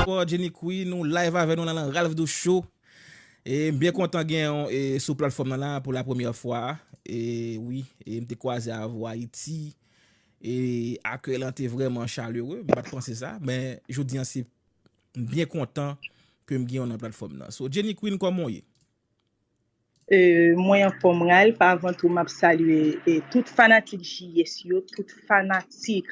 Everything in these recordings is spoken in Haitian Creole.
Bonsoir Jenny Queen nou live avè nou la nan Ralph Douce Show e m byen kontan gen yon e sou platfòm nan la pou la premyè fwa e wi e m te kwaze avè w Ayiti e akèy lan te vrèman chalere m pa t panse sa men jodi an se m byen kontan ke m gen w nan platfòm nan so Jenny Queen kòman w ye? Mwen anfom Ralph avan tou map salye tout fanatik JS yo tout fanatik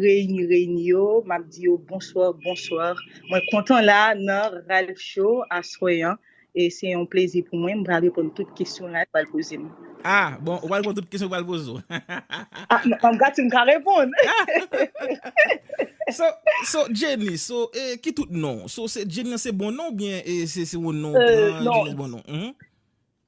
reyini reyini yo map di yo bonswa bonswa mwen kontan la nan Ralph show aswè an e se yon plezi pou mwen m pral reponn tout kesyon Ralph pral pozem. Ah bon ou pral pran tout kesyon pral pozo. Ah, m ap gad si m ka reponn. So, so Jenny, so e ki tout non? So se Jenny an se bon non ou bien e se se yon non ou Euh, pran non, Jenny bon non? Mhm.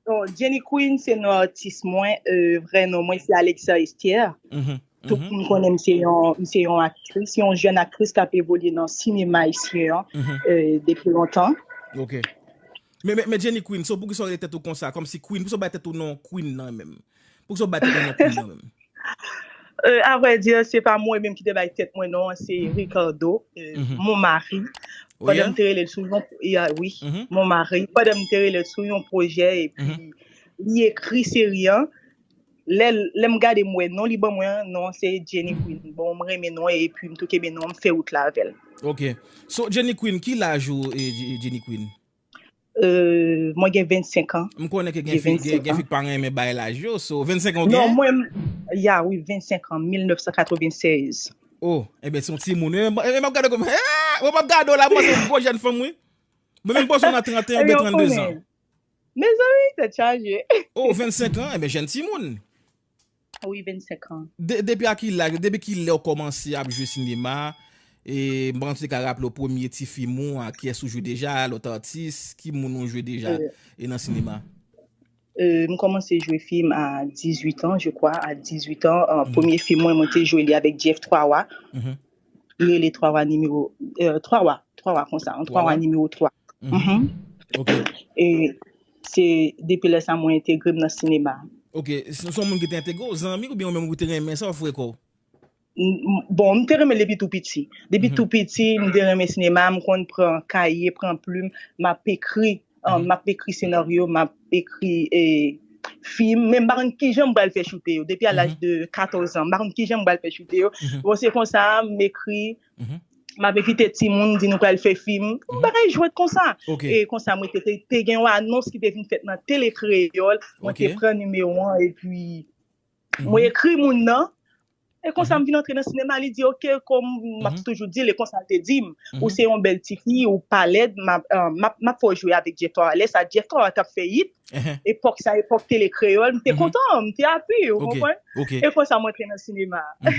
non, Jenny Queen se non atis mwen, euh, vrè non mwen se Alexa Estière. Mhm. Tout Mhm. moun konnen m se yon, m se yon aktris, yon jèn aktris k ap evolye nan sinema ayisyen an Mhm. euh, depi lontan. OK. Men men Jenny Queen so poukisa w rele tèt ou konsa kòmsi Queen poukisa w bay tèt ou non Queen nan menm poukisa w bay tèt ou non Queen nan menm. Euh a vrai dire se pa mwen menm ki te bay tèt mwen non an se Ricardo mon mari pandan m te rele l sou yon ya wi mon mari pandan m te rele l sou yon projè epi li ekri seri an. Lè lè m gade m wè non li ban mwen an, non an se Jenny Queen. Bon m renmen non an epi m tou kenbe non an m fè wout la avè l. Ok. So Jenny Queen, ki laj ou e Jenny Queen? Euh, mwen gen 25 an. M konnen ke gen J'ai fi, gen 25 gen fi ans. k pa renmen bay laj yo, so 25 an ou Non, genyen? mwen m Ya wi, 25 an, 1996. Oh, enben se yon timoun wi. Enben enben m ap gade w kòm, eeh! Mwen m ap gade w la, m panse w gwo jèn fanm wi. Mwen menm m panse w nan trenten oubyen Ebyen ou 32 zan. konnen. Mezanmi tèt chaje. Oh 25 ans enben jèn timoun. Wi 25 ans. Depi a ki laj ou depi kilè ou kòmanse ap jwe sinema e m pa konn si ou te ka raple w premye ti fim ou ak kiyès ou jwe deja lòt atis ki moun ou jwe deja e nan sinema. M kòmanse jwe fim a 18 ans je kwa a 18 ans premye fim mwen mwen te jwe li avèk Jeff 3 wa rele 3 wa nimewo 3 wa 3 wa konsa 3 wa nimewo 3 ok e se depi lè sa mwen entegre m nan sinema ok se yon moun ki te entegre w zanmi oubyen ou menm ou te renmen sa ou fwe kò w bon m te renmen l depi tou piti depi tou piti m te renmen sinema m konn pran kaye pran plim m ap ekri. M ap ekri senaryo, m ap ekri fim, men m pa konn kijan m pral fè choute yo. Depi a laj de katòz an, m pa konn kijan m pral fè choute yo. Bon, se konsa, m ekri, m ap envite timoun, m di nou pral fè fim, bagay jwèt konsa. E konsa, mwen te, te gen yon anons ki te vin fèt nan Tele Kreyòl, mwen te pran nimewo an, epi. Mwen ekri moun nan, e konsa m vin antre nan sinema, li di ok, kòm m ap toujou di l, e konsa l te di m, ou se yon bèl ti fi, ou pa lèd, m ap fè w jwe avèk Jeff Thorah. Lè sa Jeff Thorah t ap fè it, epòk sa epòk tele kreyòl, m te kontan, m te api, ou konprann? E konsa m antre nan sinema a.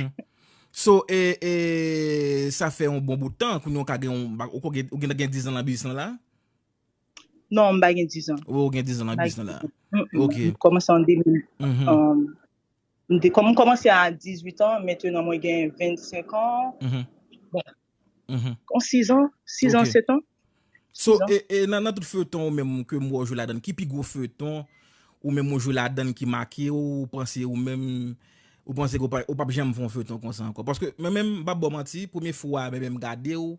So, sa fè yon bon bout tan, kounye w ka gen yon, ou gen dizan nan biznis lan la? Non, m pa gen 10 an. Ou gen 10 an nan biznis la. Ok. M kòmanse an 2000. M kòmanse a 18 an, mentenan mwen gen 25 an. Bon, 6 an, 6 an, 7 an. So, e nan tout feuilleton ou menm ke m wè ou jwe ladann, ki pi gwo feuilleton ou menm ou jwe ladann ki make ou, ou panse ou menm, ou panse ou pap janm fè yon feuilleton konsa ankò? Paske mwen menm, m pap ba w manti, premye fwa mwen menm gade ou,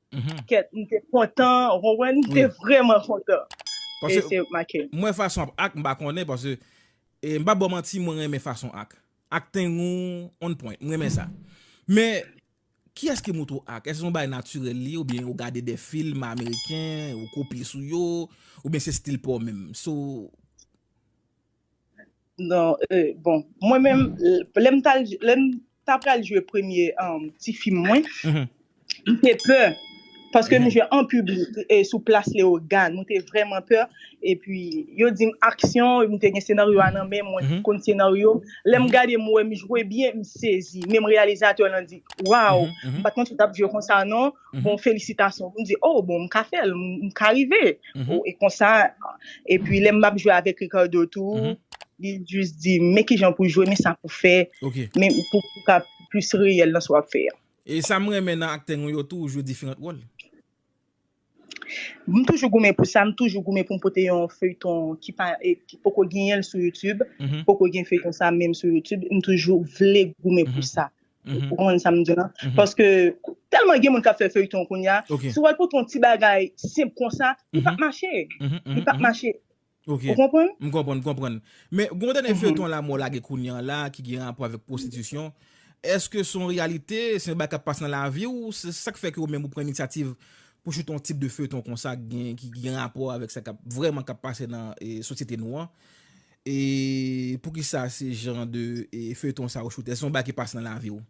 Kèt m te kontan ou konprann m te vrèman kontan e se make m. Mwen fason ap ak m pa konnen paske m pap baw manti mwen renmen fason ak. Acting ou on point m renmen sa. Men kiyès ki moto ak? Èske se yon bagay natirèl li oubyen ou gade de film ameriken ou kopye sou yo oubyen se stil paw menm? So. Non, euh, bon, mwen menm, lè m tal, lè m ta pral jwe premye um, ti fim mwen, Mhm, m te pè, paske m mhm, jwe an piblik, e sou plas Leogane, mwen te vrèman pè, epi yo di m aksyon, m te gen senaryo a nan men, mwen mhm, konn senaryo, lè m mhm, gade m wè m jwe byen, m sezi, menm reyalizatè lan di, waw, mhm, m mhm. pat konn si w tap jwe konsa non, bon felisitasyon pou m di oh bon m ka fè l m ka rive e konsa epi lè m ap jwe avèk Ricardo tou li jis di m men kijan pou jwe men sa pou fè men pou ka plis reyèl nan sa w ap fè a. E sa m renmen nan aktè nou yo tou ou jwe diferant wòl. M toujou goumen pou sa m toujou goumen pou m pote yon feyton ki pa ki poko genyen l sou youtube poko gen feyton sa menm sou youtube m toujou vle goumen pou sa Ou konprann sa m di la? Paske tèlman gen moun k ap fè feyton kounye a, si w al pote yon ti bagay senp konsa, li p ap mache. Li p ap mache. Ou konprann? M konprann, m konprann. Men, gen yon dènye feyton Lamò lage kounye an la ki gen rapò avèk pwostitisyon. Èske se yon reyalite? Se yon bagay k ap pase nan lavi w? Se sa k fè ke ou menm ou pran inisyativ pou w choute yon tip de feyton konsa ki gen rapò avèk sa k ap vrèman k ap pase nan sosyete nou an? E poukisa se jan de feyton sa ou choute? Èske se yon bagay ki pase nan lavi ou?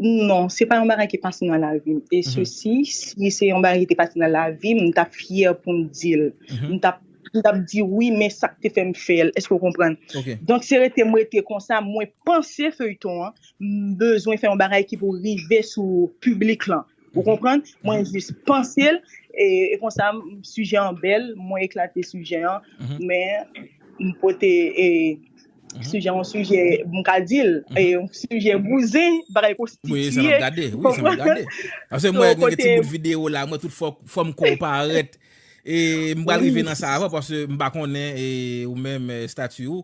Non, se pa yon bagay ki pase nan lavi m. E se si, si se yon bagay ki te pase nan lavi m, m tap fyè pou m di l. M tap, m tap di wi men sa k te fè m fè l. Èske ou konprann? Donk se rete m rete konsa, mwen panse feyton an, m bezwen fè yon bagay ki pou rive sou piblik lan. Ou konprann? Mwen jis panse l, e konsa sijè an bèl, mwen eklate sijè an, men m pote e sijè an sijè m ka di l, e yon sijè bouzen, bagay konstitiye. Wi, sa m ap gade, wi, sa m ap gade. Pase mwen gen ti bout videyo la, mwen tout fòm kò w parèt, e m pa rive nan sa avan, pase m pa konnen ou menm stati ou.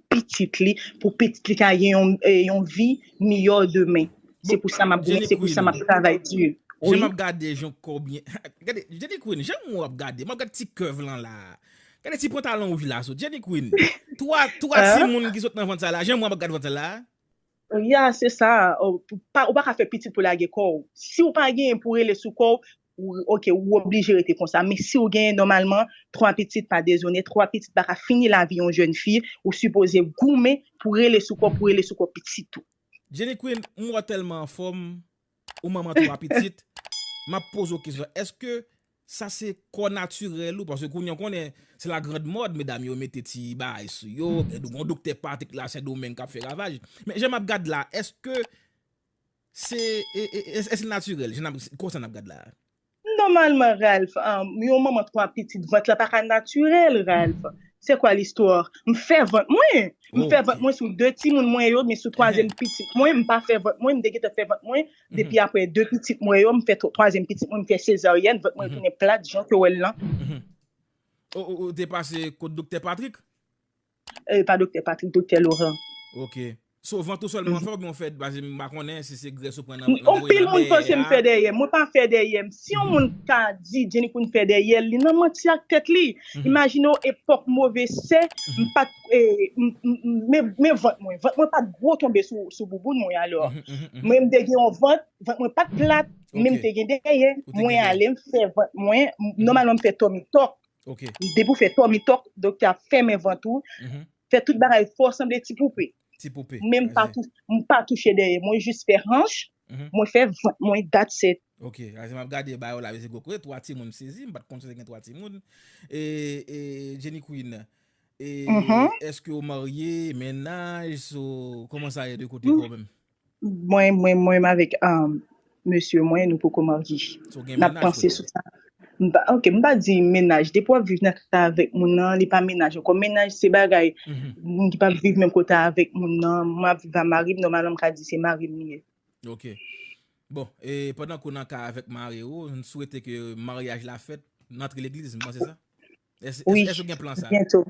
pitit li pou pitit li ka gen yon vi miyò demen. Se pou sa map goumen, se pou sa map travay di. Jan map gade jan kòw byen. Gade Jenny Queen, jan moun ap gade, map gade ti curve lan la. Gade ti pantalon wouj la sot. Jenny Queen, 3 timoun ki sot nan vant sa la, jan moun ap gade vant sa la. Ya se sa, ou paka fè pitit pou lage kòw. Siw pa genyen pou rele sou kòw, Ok ou oblije rete konsa men siw gen nòmalman 3 pitit pa dezone 3 pitit pa ka fini lavi yon jèn fi ou sipoze goumen pou rele sou kò pou rele sou kò pitit ou. Jenny Queen m wè w tèlman anfòm ou manman 3 pitit map poze w kesyon èske sa se kò natirèl ou paske kounye an konnen se la grand mode medam yo mete ti bagay sou yo gen gon doktè patik la sendomeng kap fè ravaj men jan map gad la èske Se eske naturel jan nap konsa nap gad la. Normalman Ralph yon manman 3 pitit vant la paka naturel Ralph c'est quoi l'histoire m fè vant mwen m fè vant mwen sou 2 timoun mwen yo men sou 3 zièm pitit mwen m pa fè vant mwen m te gentan fè vant mwen depi aprè 2 pitit mwen yo m fè 3 zièm pitit mwen m fè sezaryèn vant mwen tounen plat jan ke w wè l lan. Ou te pase kot doktè Patrick? Eeh pa Doktè Patrick, Doktè Laurent. Ok. So vant ou sèlman ou fè oubyen ou fè pase m pa konnen si se grès ou pran nan nan voye nan dèyè a. Anpil moun panse m fè dèyè m, mwen pa fè dèyè m. Si yon moun ka di Jenny Queen fè dèyè l, li nan manti ak tèt li. Imajine w epòk move sè, m pa t men vant mwen, vant mwen pa t gwo tonbe sou bouboun mwen alò. Mwen m te gen yon vant, vant mwen pa t plat men m te gen dèyè. Mwen ale m fè vant mwen, nòmalman m fè tòmikòk. Ok. Depi ou fè tòmi tòk, doktè ap fèmen vant ou, fè tout bagay fè w sanble ti poupe. Ti poupe. Men m pa tou, m pa touche dèyè, mwen jis fè hanch, mwen fè vant mwen, that's it. Ok, aze map gade ba yo la vezi gwo koze 3 timoun m sezi m pat konn si te gen 3 timoun e Jenny Queen e eske ou marye, menaj so kòman sa ye de kote pa w menm? Mwen mwen mwen avèk um, mesye mwen nou poko marye. So gen Nap mennaj panse kote sou ou? sa. M pa ok, m pa di mennaj. Depi wap viv nan kay avèk moun nan, li pa mennaj ankò. Mennaj se bagay Mhm. moun ki pa viv menm kote avèk moun nan. Mwen ap viv a mari m, nòmalman m ka di se mari m li ye. Ok. Bon, e pandan ke w nan kay avèk mari ou, m swete ke maryaj la fèt, n antre legliz, m panse sa? Wi, byento.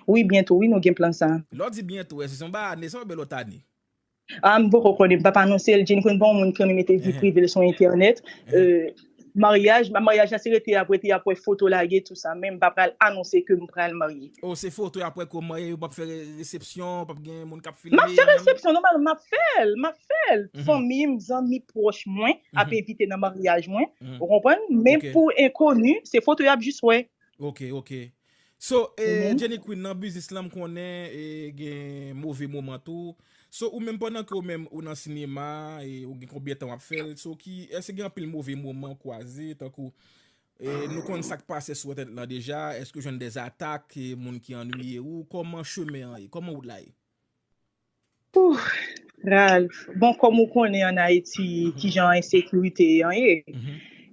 Wi, byento wi nou gen plan sa. Lè w di byento, èske se yon bay ane sa oubyen lòt ane? A, m poko konnen, m pa p anonse l. Jeni konn pa yon moun ki renmen mete vi prive l sou entènèt. Maryaj, maryaj la se rete y ap rete, y ap wè foto lage tou sa. Men m pa pral anonse ke m pral marye. O, se foto y ap wè ke w marye, ou pa p fè resepsyon, pa p gen moun k ap filme? M ap fè resepsyon, nòmal, m ap fè l, m ap fè l. Fanmi m, zanmi pwòch mwen, ap envite nan maryaj mwen ou konprann men pou enkoni se foto yap jis wè. Ok ok so Jenny Queen nan biznis lan m konnen gen move moman tou so ou menm pandan ke ou menm ou nan sinema ou gen konbyen tan wap fèl so ki eske gen anpil move moman ou kwaze tankou nou konn sak pase sou entènèt lan deja eske ou jwenn dè zatak moun ki annwiye ou koman chemen an ye koman wout la ye. Ralph, bon kòm ou konnen an Ayiti kijan ensekirite an ye,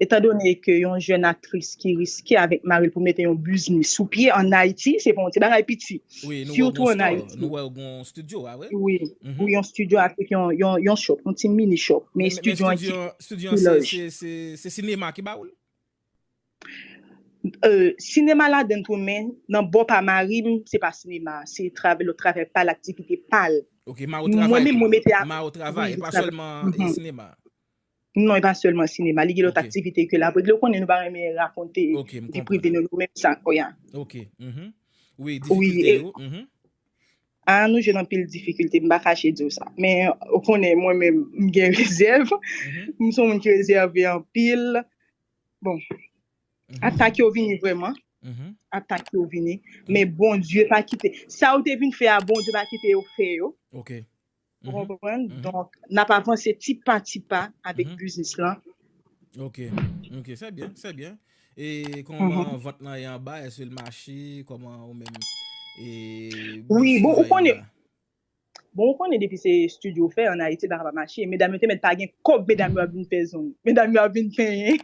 etan done ke yon jèn aktris ki riske avèk mari l pou mete yon biznis sou pye an Ayiti se pa yon ti bagay piti, sitou an Ayiti. Nou wè w gen yon studio a vre? Wi, yon studio avèk yon shop, yon ti mini shop, men studio an ki pi laj. Men studio an se sinema ki ba ou l? Sinema ladann tou men nan bò pa mari m se pa sinema se travay lòt travay pal aktivite pal. Ok Mao travay tou Mao travay e pa sèlman sinema. Non e pa sèlman sinema li gen lòt aktivite ke lap regle ou konnen nou pa renmen rakonte vi prive nou menm sa. Ok wi difikilte yo. Aa nou jwenn anpil difikilte, m pa kache di w sa. Men, ou konnen mwen menm, m gen rezèv. M se yon moun ki rezève anpil. Bon, atak yo vini vrèman. Atak yo vini. Men Bondye pa kite. Sa yo te vin fè a, Bondye pa kite yo fè yo. Ou konprann? Donk, n ap avanse ti pa ti pa avèk biznis lan. Ok, ok, sè byen, sè byen. E kòman vant lan ye anba? Èske l mache? Kòman ou menm e biznis lan ye anba? Bon, ou konnen depi se estidyo w fè an Ayiti, bagay pa mache. Medam yo te mèt pa gen kòb, medam yo ap vin fè zong. Medam yo ap vin penyen.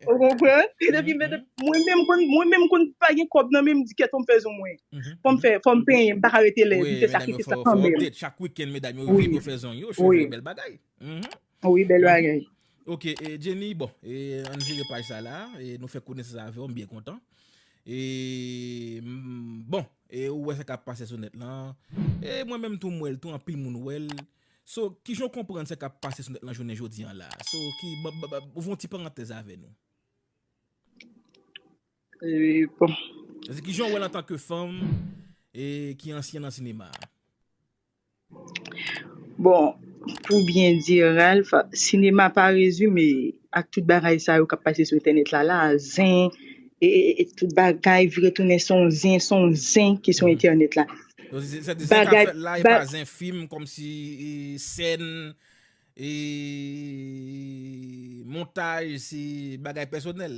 Ou konprann? Mwen menm, mwen menm konn pa gen kòb nan men m, m di kèt w m fè zong mwen. Fòm fè, fòm penyen, m pa ka rete lèd, m se sa ki fè sa kanmenm. Wi medam yo fè w update chak weekend medam yo vin yo fè zong yo, cheve bèl bagay. Wi bèl bagay. Ok Jenny bon ann vire paj sa la nou fè konesans avèw m byen kontan bon ou wè sa kap pase sou nèt lan mwen menm tou m wèl tou anpil moun wèl so kijan w konprann sa kap pase sou nèt lan jounen jodi an la so ouvri yon ti parantèz avè nou. Eee bon. Jezi kijan ou wèl antanke fanm e ki ansyen nan sinema a? Bon pou byen di Ralph sinema pa rezime ak tout bagay sa yo kap pase sou entènèt la la zen e tout bagay vire tounen son zen son zen ki sou entènèt la Donk se zen kap bagay fèt la e pa zen fim kòmsi sèn E montaj se bagay pèsonèl,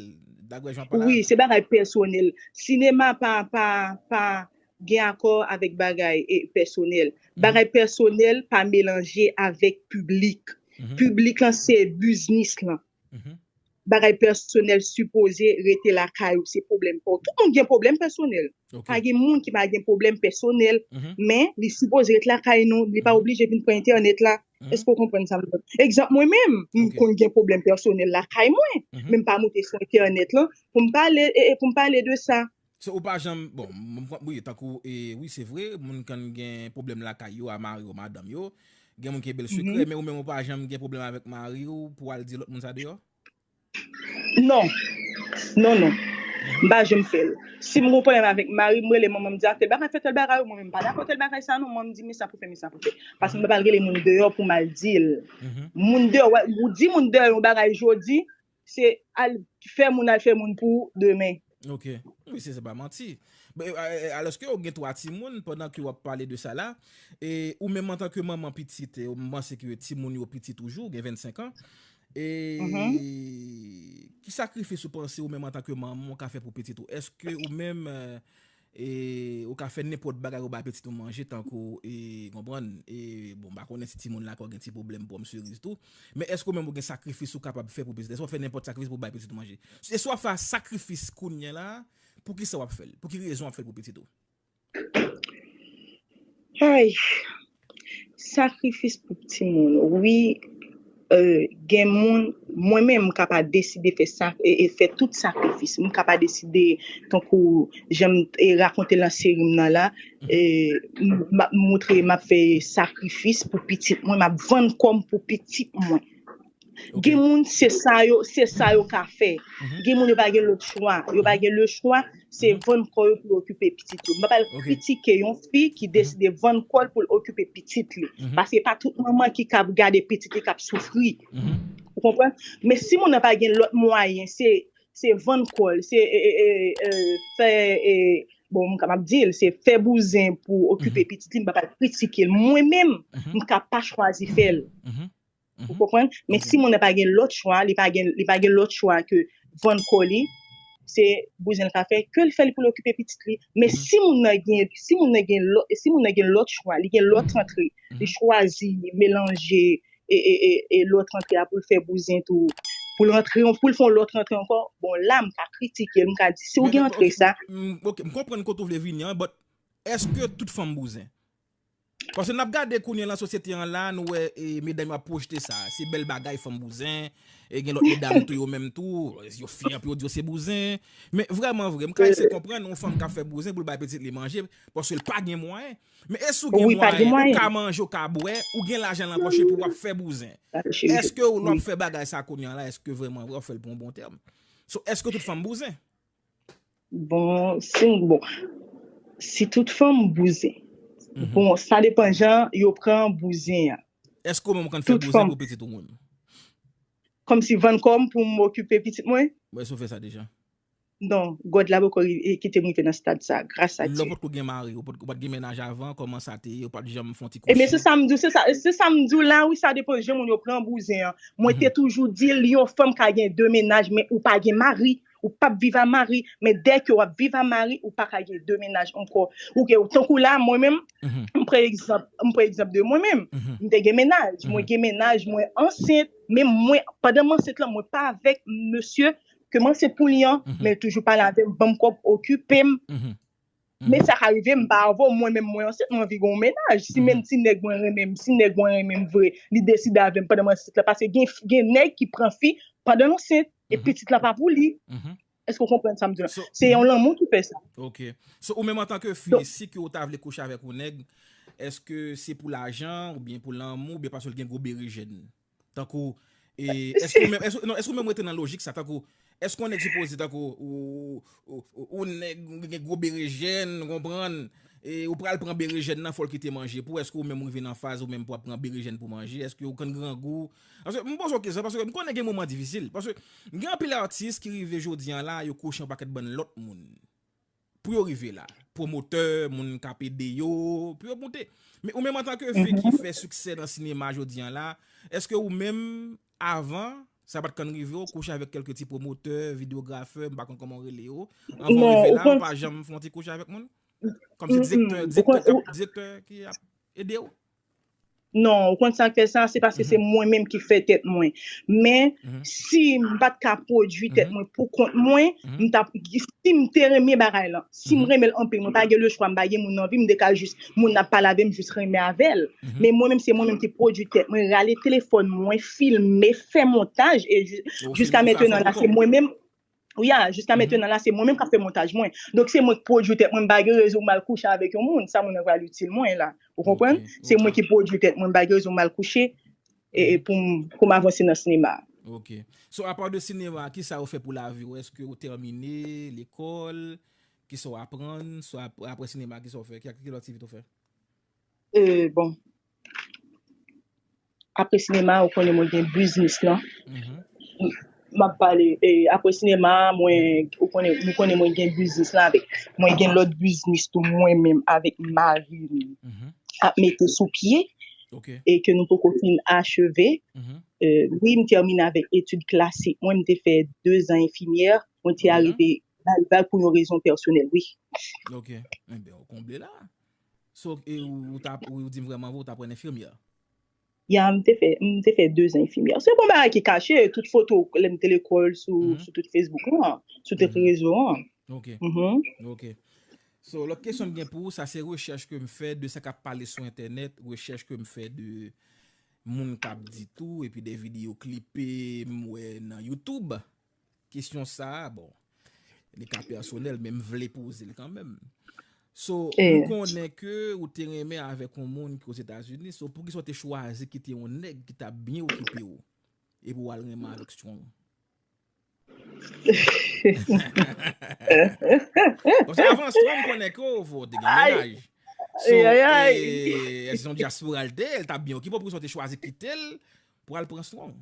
daprè jan w pale Wi, avè m. se bagay pèsonèl. Sinema pa, pa, pa gen akò avèk bagay pèsonèl. Bagay pèsonèl pa melanje avèk piblik. Piblik lan se biznis lan. Bagay pèsonèl sipoze rete lakay ou, se pwoblèm pa w. Tout moun gen pwoblèm pèsonèl. Pa gen moun ki pa gen pwoblèm pèsonèl, men li sipoze ret lakay nou, li pa oblije vin pran entènèt la. Èske ou konprann sa m di? Egzanp, mwen menm, m konn gen pwoblèm pèsonèl lakay mwen, men m pa moute sou entènèt lan pou m pale de sa. So ou pa janm bon wi tankou wi se vre moun kann gen pwoblèm lakay yo a mari yo madanm yo gen moun ki gen bèl sekrè men ou menm ou pa janm gen pwoblèm avèk mari ou pou al di lòt moun sa deyò? Non non non m pa janm fè l si m gen yon pwoblèm avèk mari m m rele manman m di a tèl bagay fè tèl bagay mwen menm m pa dakò tèl bagay sa non manman m di men sa pou fè men sa pou fè paske m pa pral rele moun deyò pou m al di l moun deyò ou di moun deyò yon bagay jodi Se al fè moun al fè moun pou demen. Ok wi se pa manti. Alòske ou gen 3 timoun pandan ke wap pale de sa la, e ou menm antan ke manman pitit e m panse ke timoun yo piti toujou, gen 25 an, e ki sakrifis ou panse ou menm antan ke manman ou ka fè pou pitit ou? Eske ou menm E ou ka fè nenpòt bagay ou bay pitit ou manje tankou e konprann e bon m pa konnen si timoun lakòl gen ti pwoblèm pòm seriz tou men èske ou menm ou gen sakrifis ou kapab fè pou pitit èske w ap fè nenpòt sakrifis pou w bay pitit ou manje e si w ap fè sakrifis kounye la poukisa w ap fè l pou ki rezon w ap fè l pou pitit ou. Ayy. Sakrifis pou pti moun wi gen moun mwen menm m ka pa deside fè tout sakrifis m ka pa deside tankou janm te rakonte nan seri m nan la map moutre map fè sakrifis pou pitit mwen map vann kòm pou pitit mwen. Ok. Gen moun se sa yo, se sa yo ka fè. Mhm. Gen moun yo pa gen lòt chwa. Yo pa gen le chwa, se Mhm. vann kò yo pou yo okipe pitit yo. Mwen pa l Ok. kritike yon fi ki Mhm. deside vann kò l pou l okipe pitit li. Mhm. Paske pa tout manman ki kab gade pitit li kap soufri. Mhm. Ou konprann? Men si moun nan pa gen lòt mwayen, se se vann kò l, se e, e, e, e, fè e, bon m ka map di l, se fè bouzen pou Mhm. okipe pitit li, m pa pa l kritike l. Mwen menm, Mhm. m ka pa chwazi fè l. Mhm. Ou konprann? Men si moun nan pa gen lòt chwa, li pa gen li pa gen lòt chwa ke vann kò li, se bouzen l ka fè, ke l fè li pou l okipe pitit li. Men si moun nan gen si moun nan gen lòt si moun nan gen lòt chwa, li gen lòt rantre, li chwazi melanje e e e e lòt rantre a pou l fè bouzen tou, pou l rantre pou l fè yon lòt rantre ankò, bon la m ka kritike l, m ka di si w gen rantre sa, M ok, m konprann kote ou vle vini an but èske tout fanm bouzen? Paske nap gade kounye lan sosyete an la nou wè medam yo ap pwojte sa, se bèl bagay fanm bouzen, e gen lòt medam tou yo menm tou, yo fyè pou yo di yo se bouzen, men vrèman vre m ka ese konprann yon fanm kap fè bouzen poul bay pitit li manje paske l pa gen mwayen, men e si w gen mwayen, ou ka manje ou ka bwè, ou gen lajan lan pòch epi wap fè bouzen, eske w lè wap fè bagay sa kounye an la eske vrèman vre wap fèl pou yon bon tèm, so eske tout fanm bouzen? Bon si m bon si tout fanm bouzen bon sa depan jan yo pran bouzen an. Eske ou menm ou konn fè bouzen pou pitit ou menm? Kòmsi vann kò m pou m okipe pitit mwen? Bon èske ou fè sa deja? Non God la poko kite m rive nan stad sa gras a Dye. Lè w potko gen mari ou pat gen mennaj avan kòman sa te ye ou pat janm fè yon ti kouchi? Ebyen se sa m di w se sa se sa m di w la wi sa depan jan moun yo pran bouzen an mwen te toujou di l yon fanm ka gen 2 mennaj men ou pa gen mari ou pap viv a mari men dèke wap viv a mari ou paka gen 2 mennaj ankò ou ke tankou la mwen menm m pran egzanp m pran egzanp de mwen menm m te gen mennaj mwen gen mennaj mwen ansent men mwen pandan m ansent lan mwen pa avèk mesye ke m ansent pou li an men toujou pale avèm banm kòb okipem Men sa ka rive m pa avè w, mwen menm mwen ansent mwen anvi gen yon mennaj, si menm ti nèg mwen renmen m, si nèg mwen renmen m vre, li deside avè m pandan m ansent la, paske gen nèg ki pran fi pandan l ansent, e pitit la pa pou li. Èske w konprann sa m di w la? Se yon lanmou ki fè sa. Ok. So ou menm antan ke fi, si ke w ta vle kouche avèk yon nèg, èske se pou lajan, oubyen pou lanmou, oubyen paske l gen gwo berejèn? Tankou, e, èske ou menm, èske, non, èske ou menm rete nan lojik sa, tankou, èske yon nèg sipoze, tankou, ou, ou nèg, ou gen gwo berejèn, ou konprann, e, ou pral pran berejèn nan, fò l kite manje pou ou, èske ou menm rive nan faz ou menm pou w ap pran berejèn pou manje, èske ou konn grangou? Paske, m poze w kesyon, paske m konnen gen moman difisil, paske, gen anpil atis ki rive jodi an la, yo kouche yon pakèt bann lòt moun. pou yo rive la, pwomotè, moun kap ede yo, pou yo moute. Men ou menm antan ke fi ki fè siksè nan sinema jodi an la, eske ou menm avan, sa pat konn rive ou kouche avèk kèlke ti pwomotè, videografè, m pa konn kòman ou rele yo, anvan ou rive la ou pa janm fon ti kouche avèk moun? Kòm se direktè, direktè ki ap ede ou? Non, ou konn sa k fè sa, se paske se mwen menm ki fè tèt mwen. Men, si m pa t ka pwodui tèt mwen pou kont mwen, m t ap, si m te renmen bagay lan, si m renmen l anpil, mwen pa gen lechwa, m pa gen moun nan vi m, m te ka jis, moun nan ap pale avè m, m jis renmen avè l. Men mwen menm, se mwen menm ki pwodui tèt mwen, rale telefòn mwen, filme, fè montaj, e jiska mentenan la, se mwen menm. Wi a, jiska mettenan la se mwen menm k ap fè montaj mwen. Donk se mwen k pwodui tèt mwen, m pa gen rezon m al kouche avèk yon moun, sa moun nan pral itil mwen la. Ou konprann? Se mwen ki pwodui tèt mwen, m pa gen rezon m al kouche pou m avanse nan sinema a. Ok. So apa de sinema a, kisa ou fè pou lavi ou? Eske ou tèmine lekòl? Kisa ou aprann? So aprè sinema kisa ou fè? Ki lòt aktivite ou fè? Bon. Apre sinema ou konnen mwen gen biznis lan. M ap pale apre sinema mwen ou konnen mwen gen biznis lan avèk mwen gen lòt biznis tou mwen menm avèk mari m ap mete sou pye e ke nou poko fin acheve. Wi m tèmine avèk etid klasik mwen m te fè dezan enfimyè mwen te arive pou yon rezon pèsonèl wi. Ok, enben ou konble la. So ou ta ap, ou dim vrè manvo ou ta pran infirmière? Ya m te fè, m te fè 2 zan infirmière. Se bon bagay ki kache, tout foto lè m te lekòl sou sou tout Facebook lan, sou tout rezo an. Ok. Ok. So lòt kesyon m gen pou ou, sa se rechèch ke m fè de sa k ap pale sou entènèt, rechèch ke m fè de moun k ap di tou epi de videyo klipe m wè nan YouTube. Kesyon sa a, bon, li ka pèsonèl, men m vle poze l kanmenm. So, m konnen ke ou te renmen avèk yon moun ki Ozetazini, so poukisa ou te chwazi kite yon nèg ki t ap byen okipe ou, epi w al renmen avèk Strong? Paske avan Strong m konnen ke ou te gen mennaj. So, e, se yon dyaspora l te, l t ap byen okipe ou, poukisa ou te chwazi kite l Pral pran swen w.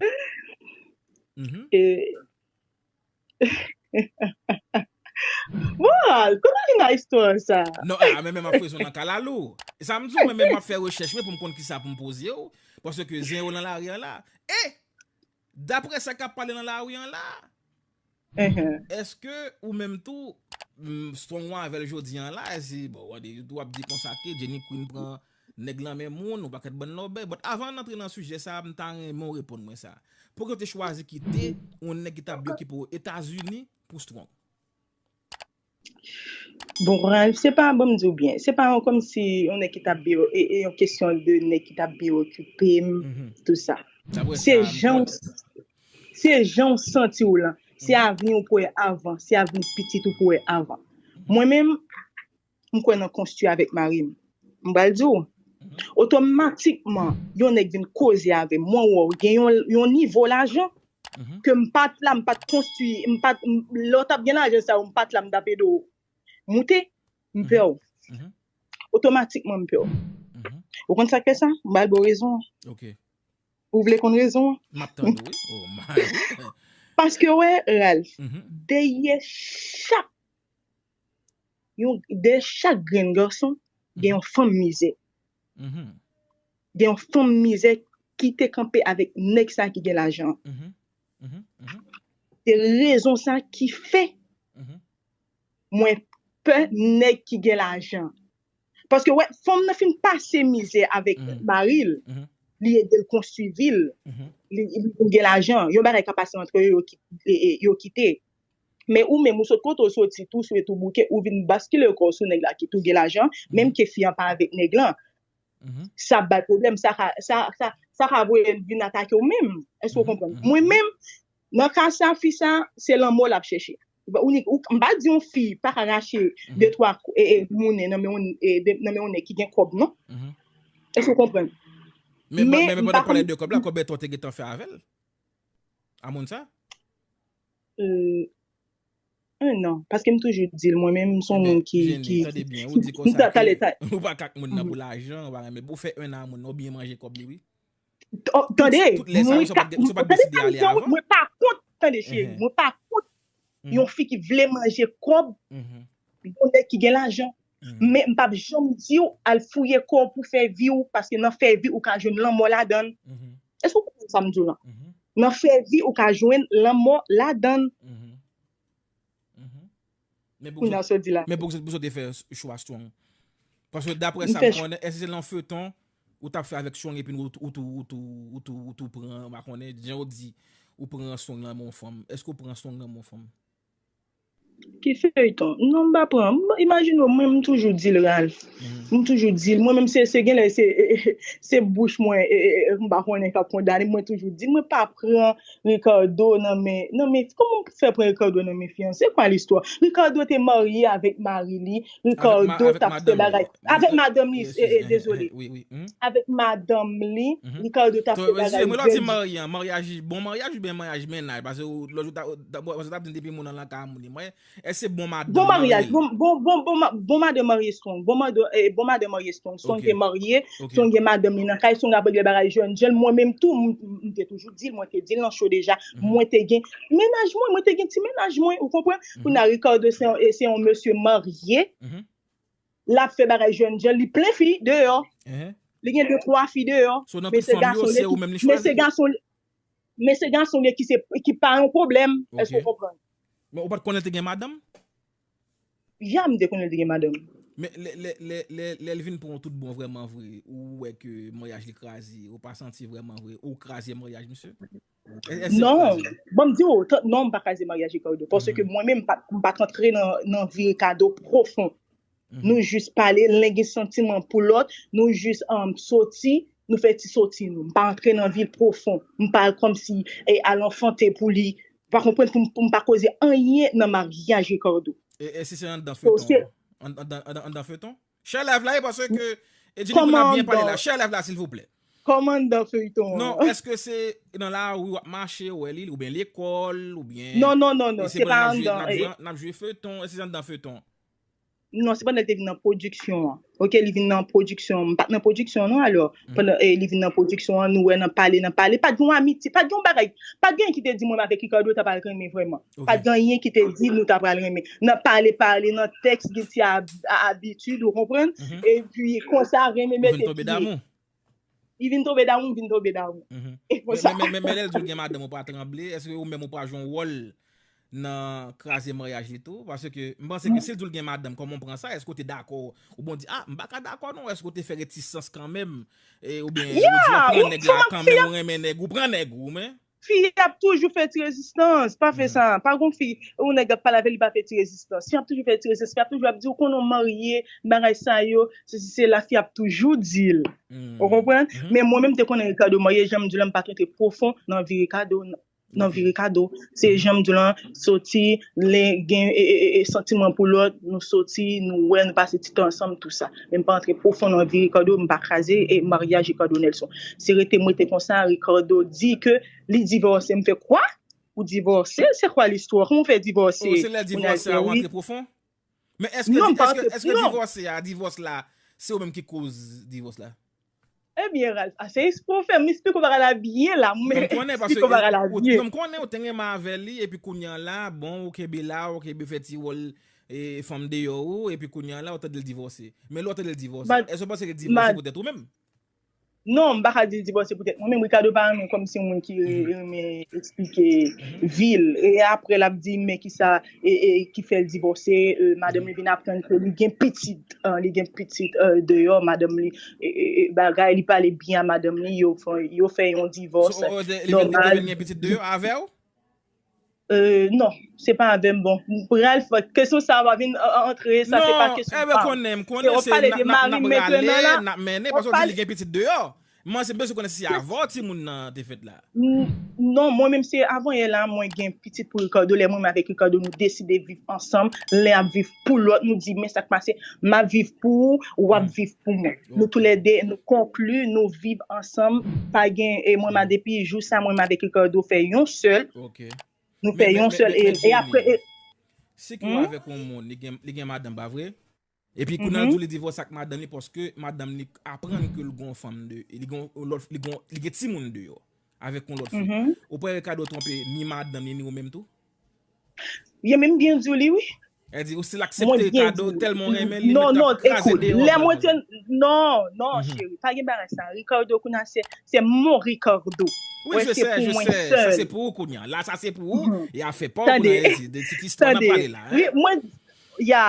Moral, koman vin a istwa sa? Non, a mwen menm ap fwezon nan kalalou. Sa m di w mwen menm map fè rechèch mwen pou m konn kisa pou m poze w. Paske zen yo lan lari an la. E! Daprè sa kap pale lan lari an la. Uhmm. Eske ou menm tou Strong wan avèl jodi an la si bon ou ap di konsa ke Jenny Queen pran nèg lan men moun ou pakèt bann lòbèy but avan n antre nan sijè sa m ta renmen w reponn mwen sa Poukisa ou te chwazi kite yon nèg ki tap vle okipe w Etazini pou Strong? Bon kouraj, se pa banm diw byen, se pa yon kòmsi yon nèg ki tap byen e yon kesyon de nèg ki tap byen okipem tout sa. Se janw se janw santiw lan, se avniw pou wè avan, se avni pitit ou pou wè avan. Mwen menm m kwè nan konstwi avèk marim. M pral diw, otomatikman yon nèg vin koze avèm, mwen wèw gen yon nivo lajan, ke m pa t la m pa t konstwi m pa t lè w t ap gen lajan sa yo m pa t la m t ap ede w moute m pè w otomatikman m pè w ou konn sa k fè sa m ba l bon rezon an ou vle konn rezon an m ap tande w wi oh my paske wè Ralph dèyè chak yon dè chak grenn gason gen yon fanm mizè gen yon fanm mizè ki te kanpe avèk nèg sa ki gen lajan se rezon sa ki fè mwen pè nèg ki gen lajan paske wè fanm nan fin pase mizè avèk maril li e del konstwi vil li gen lajan yon bagay ka pase antre yo yo kite Men ou menm ou sot kote w soti tou swe tou bouke ou vin baskile kò w sou nèg la ki tou gen lajan menm ke fi an pa avèk nèg lan sa ap bay pwoblèm sa ka sa ka sa ka voye l vin atake w menm èske ou konprann mwen menm nan ka sa fi sa se lanmò l ap chèche ou ni ou m pa di yon fi pa ka rache de twa e e moune nan men yon e de nan men yon nèg ki gen kòb non èske ou konprann men men men pandan w pale de kòb la kòbèt ou te gentan fè avè l a moun sa Eee un an, paske m toujou di l mwen menm m son moun ki, ki, ki, tande byen ou di konsa ke ou pa ka ak moun nan pou lajan ou pa renmen pou fè un an a moun nan ou byen manje kòb li wi. Tande, mwen ka, tande sa m di an wi, mwen pa kont, tande cheri, mwen pa kont yon fi ki vle manje kòb yon nèg ki gen lajan. Men m pap janm di w al fouye kò w pou fè vi w paske nan fè vi ou ka jwenn lanmò ladan l. Èske ou konprann sa m di w lan? Nan fè vi ou ka jwenn lanmò ladan l. Kounye a sa w di la. Men poukisa w te fè chwa Strong? Paske daprè sa m konnen èske se nan feuton ou t ap fè avèk Strong epi ou tou pran, m pa konnen, jan w di ou pran Strong nan men yon fanm. Èske ou pran Strong nan men yon fanm? Ki feyton non m pa pran imajine w mwen m toujou di l Ralph m toujou di l mwen menm se genlè se se bouch mwen m pa konnen kap kondane m mwen toujou di l mwen pa pran Ricardo nan men nan men kòman m fè pran Ricardo nan men fiyanse se kwa listwa Ricardo te marye avèk mari li Ricardo t ap fè bagay avèk madanm li dezole avèk madanm li Ricardo t ap fè bagay mwen di maryaj bon maryaj oubyen maryaj mennaj pase ou lòt jou ou t ap di m depi moun nan lan kay a moun li mwen èske se bon madanm bon maryaj bon madanm marye strong bon madanm marye strong strong te marye strong gen madanm li nan kay strong ap regle bagay jèn jèn mwen menm tou m te toujou di l mwen te di l nan cho deja mwen te gen mennaj mwen mwen te gen ti mennaj mwen ou konprann. Kounye a Ricardo se yon mesye marye, l ap fè bagay jèn jan, li plen fi deyò, li gen de twa fi deyò, men se gason l ye, men se gason l ye ki pa yon pwoblèm, èske w konprann? Men ou pa t konnen l te gen madanm? Ya, m te konnen l te gen madanm. Men lè l vin pran w tout bon vrèman vre, ou wè ke maryaj li kraze, ou pa santi vrèman vre, ou kraze maryaj misye? Non, banm di ou, non m pa kraze maryaj Ricardo, paske mwen menm m pat antre nan vi Ricardo pwofon. Nou jis pale, len gen santiman pou lòt, nou jis soti, nou fè ti soti nou. M pa antre nan vil pwofon, m pa kòmsi al anfante pou li, ou pa konprann, pou m pa koze anyen nan maryaj Ricardo. E si se anndan feyton? Anndan feyton? Share live la e pase ke Edjili moun ap byen pale la share live la silvouplè. Kòmandan feyton an. Non eske se nan lari wap mache ou wè li oubyen lekòl oubyen. Non non non non se pa andan. Nap jwe feyton e se andan feyton. Non se pandan li te vin nan pwodiksyon an ok li vin nan pwodiksyon an m pat nan pwodiksyon an non alò pandan li vin nan pwodiksyon an nou wè nan pale nan pale pat gen yon amitye pat gen yon bagay pat gen anyen ki te di mwen m avèk Ricardo ta pral renmen vrèman Pat gen anyen ki te di nou ta pral renmen. Nan pale pale, nan tèks gen ti abitid ou konprann, epi konsa renmen mete pye. Ou vin tonbe damou. Li vin tonbe damou, m vin tonbe damou. E konsa. Men lè l di ou gen madanm ou pa tranble, èske ou menm ou pa jwe yon wòl nan kraze maryaj li tou? Paske m panse ke si l di ou l gen madanm, kòman ou pran sa? Èske ou te dakò? Ou bon di a, m pa ka dakò non, èske ou te fè retisans kanmenm? Oubyen ou di ou pran nèg la kanmenm, ou renmen nèg ou, ou pran nèg ou men. Fi ap toujou fè ti rezistans, pa fè sa, pa gon fi yon nèg ap pale avèl li pa fè ti rezistans, fi ap toujou fè ti rezistans, fi ap toujou ap diw konnen ou marye, bagay sa yo, sesi sela fi ap toujou dil, ou konprann, men mwen menm te konnen Ricardo marye janm diw la m pat rantre pwofon nan vi Ricardo nan vi Ricardo, se janm diw lan soti. Lè gen santiman pou lòt, nou soti, nou wè, nou pase ti tan ansanm tou sa. Men m pa antre pwofon nan vi Ricardo, m pa kraze maryaj Ricardo Nelson. Se rete m rete konsa, Ricardo di ke li divòse. M fè kwa? Ou divòse? Se kwa listwa? Kòman w fè divòse? Oh se lè divòse a ou antre pwofon? Men eske Non, m pa eske eske Non. divòse a, divòs la, se ou menm ki koz divòs la? Ebyen Ralph, ase esplike w fè m esplike w bagay la byen la, mwen Fèm konnen paske esplike w bagay la ou byen. non m konnen ou te renmen avè li epi kounye an la bon ou kenbe la ou kenbe fè ti wòl e fanm deyò ou epi kounye an la ou tande l divòse. Men lè w tande l divòse, Mad, èske w panse ke divòse mad. poutèt ou menm? Non, m pa ka di l divòse poutèt mwen, men Ricardo pa renmen kòm se yon moun ki renmen eksplike vi l. E aprè l ap di men ki sa ki fè l divòse, madanm li vin aprann ke li gen pitit, li gen pitit deyò madanm li, bagay, li pale byen a madanm li, yo fè yon divòs nòmal. Li te vin gen pitit deyò avè w? Euh non se pa avèm bon m pral fè kesyon sa pa vin antre sa se pa kesyon pam. Non eh m konnen m konnen se nap rale nap mennen paske w di li gen pitit deyò m'en se m bezwen konnen si se avè w timoun nan te fèt la. Non mwen menm se avanyè la mwen gen pitit pou Ricardo lè mwen menm avèk Ricardo nou deside viv ansanm lè ap viv pou lòt, nou di men sa k pase, m ap viv pou ou, ou ap viv pou mwen. Nou tou lè de, nou konkli, nou viv ansanm, pa gen, e mwen ma depi jou sa mwen m avèk Ricardo fè yon sèl, nou fè yon sèl, e apre e. Si ke w avèk yon moun, li gen madanm, pa vre? Epi kou nan di w li divòse ak madanm li paske madanm li aprann ke l gen yon fanm de, li gen yon lòt, li gen timoun deyò, avèk yon lòt fi. Ou pa wè Ricardo twonpe ni madanm li ni ou menm tou? Byen menm byen diw li wi. El di ou sil aksepte kado telman ou renmen li mwen tap kraze deyo vre pou li. Non non cheri pa gen bagay sa Ricardo kounya se mon Ricardo. Wi je sè je sè sa se pou ou kounya la sa se pou ou e afè paw kounya el di de tit istwa nap pale la. Tande mwen ya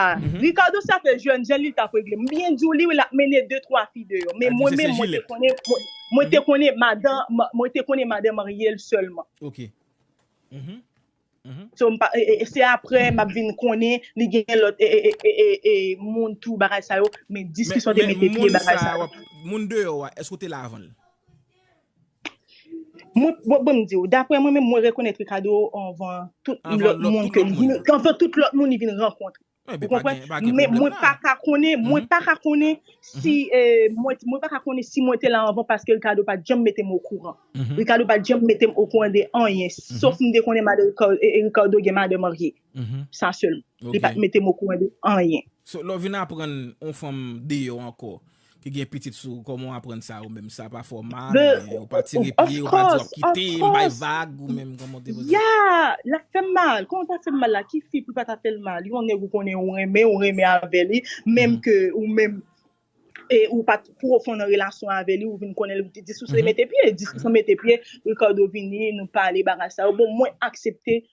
Ricardo se afè jèn jan li tap regle m byen diw li wi lap mennen 2 3 fi deyo men mwen menm mwen te konnen mwen te konnen madan mwen te konnen madan maryel selman. So m pa se aprè m ap vin konnen li gen lòt e moun tou bagay sa yo men diskisyon te mete pye bagay sa yo. Moun deyò a èske ou te la avan l? Mwen bon m di ou daprè mwen menm mwen rekonèt Ricardo anvan tout lòt moun ke li vin anvan tout lòt moun li vin rankontre. Ou konprann? Men mwen pa ka konnen, mwen pa ka konnen si mwen pa ka konnen si mwen te la anvan paske Ricardo pa t janm mete m okouran. Ricardo pa t janm mete m okouran de anyen. Sof m te konnen madan Ricardo gen madan marye. Sa sèlman. Li pa t mete m okouran de anyen. So lè w vin aprann yon fanm deyò ankò, ki gen pitit sou ou koman w aprann sa ou menm sa pa fè w mal oubyen ou pa tire pye ou pa di w ap kite m bay vag ou menm koman w depoze sa. Yeah l ap fè m mal koman l pa fè m mal la ki fi pou l pa ta fè l mal yon nèg ou konnen ou renmen ou renmen avè li menm ke ou menm e ou pat pwofon nan relasyon avè li ou vin konnen l diskisyon mete pye diskisyon mete pye Ricardo vini nou pale bagay sa yo bon mwen aksepte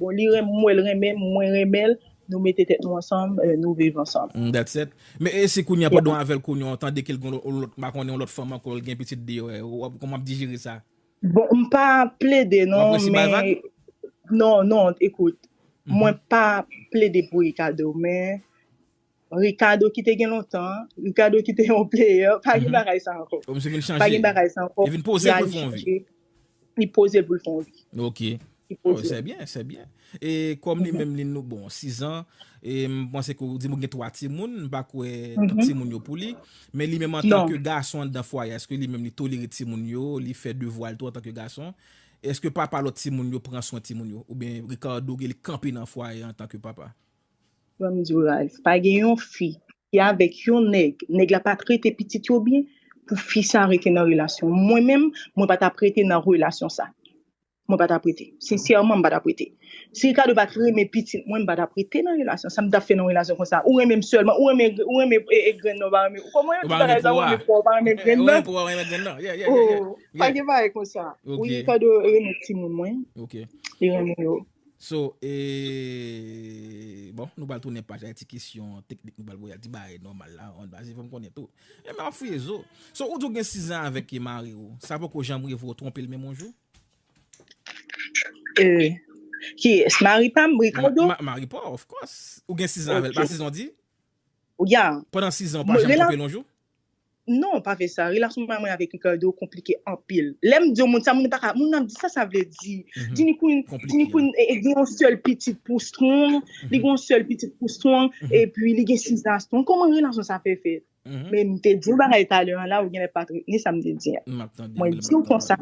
Bon li renmn mwen l renmen m mwen renmen l nou mete tèt nou ansanm nou viv ansanm. Humm that's it Men e si kounya pandan w avèl kounya w tande ke l gen yon lòt pa konnen yon lòt fanm ankò l gen pitit deyò e kòman wap dijere sa? Bon m pa plede non Wap resi bay men vag? non non ekout mwen pa plede pou Ricardo men Ricardo ki te gen lontan an, Ricardo ki te yon player, pa gen bagay sa ankò. Ou misye vin chanje. Pa gen bagay sa ankò. Li vin poze pou l fè yon vi. Li poze pou l fè yon vi. Ok. Li poze. Se byen, se byen. E kòm li menm li nou bon, 6 an, e m panse ke ou di m ou gen 3 timoun, m pa kwè tout timoun yo pou li, men li menm antan ke gason anndan fwaye a, èske li menm li tolere timoun yo, li fè devwa l tou antan ke gason? Èske papa lòt timoun yo pran swen timoun yo? Oubyen Ricardo gen li kanpe nan fwaye antan ke papa? Frè m diw raz. Pa gen yon fi ki avèk yon nèg, nèg la pa trete pitit yo byen pou fi sa rete nan relasyon. Mwen menm, mwen pa tap rete nan relasyon sa. Mwen pa tap rete. Sensèman m pa tap rete. Si Ricardo pat renmen pitit mwen, m pa tap rete nan relasyon sa. M tap fè nan relasyon konsa. Ou renmen m sèlman. Ou renmen ou renmen e grenn nan ou pa renmen. Ou konprann Ou ti pa renmen bagay sa, ou pouwa. renmen pouwa ou pa renmen grenn Ou renmen nan. pouwa, ou renmen grenn nan. Yeah, yeah, yeah, yeah. Oh, pa Yeah. gen bagay konsa. Ok. Wi Ricardo renmen timoun mwen. Ok. Li renmen yo. So e bon nou pral tounen paj la ti kesyon teknik nou pral voye al ti bagay nòmal la an baz e fòm konnen tou e map fouye zo. So ou di ou gen 6 zan avèk e mari ou sa poko janm rive ou twonpe l menm yon jou? Euh kiyès mari pa m Ricardo? Ma mari pa w of course ou gen 6 zan avèl pa 6 zan w di? Ya. Pandan 6 zan ou pa janm twonpe l yon jou? Non pa vre sa, relasyon mwen mwen avèk Ricardo konplike anpil. Lèm diw moun sa moun paka moun ap di sa sa vle di. Dini Queen, Dini Queen gen yon sèl pitit pou Strong, li gen yon sèl pitit pou Strong epi li gen 6 ans Strong kòman relasyon sa fè fèt? Men mte diw bagay talè an la ou genlè pat retni sam te di an. Mwen diw konsa.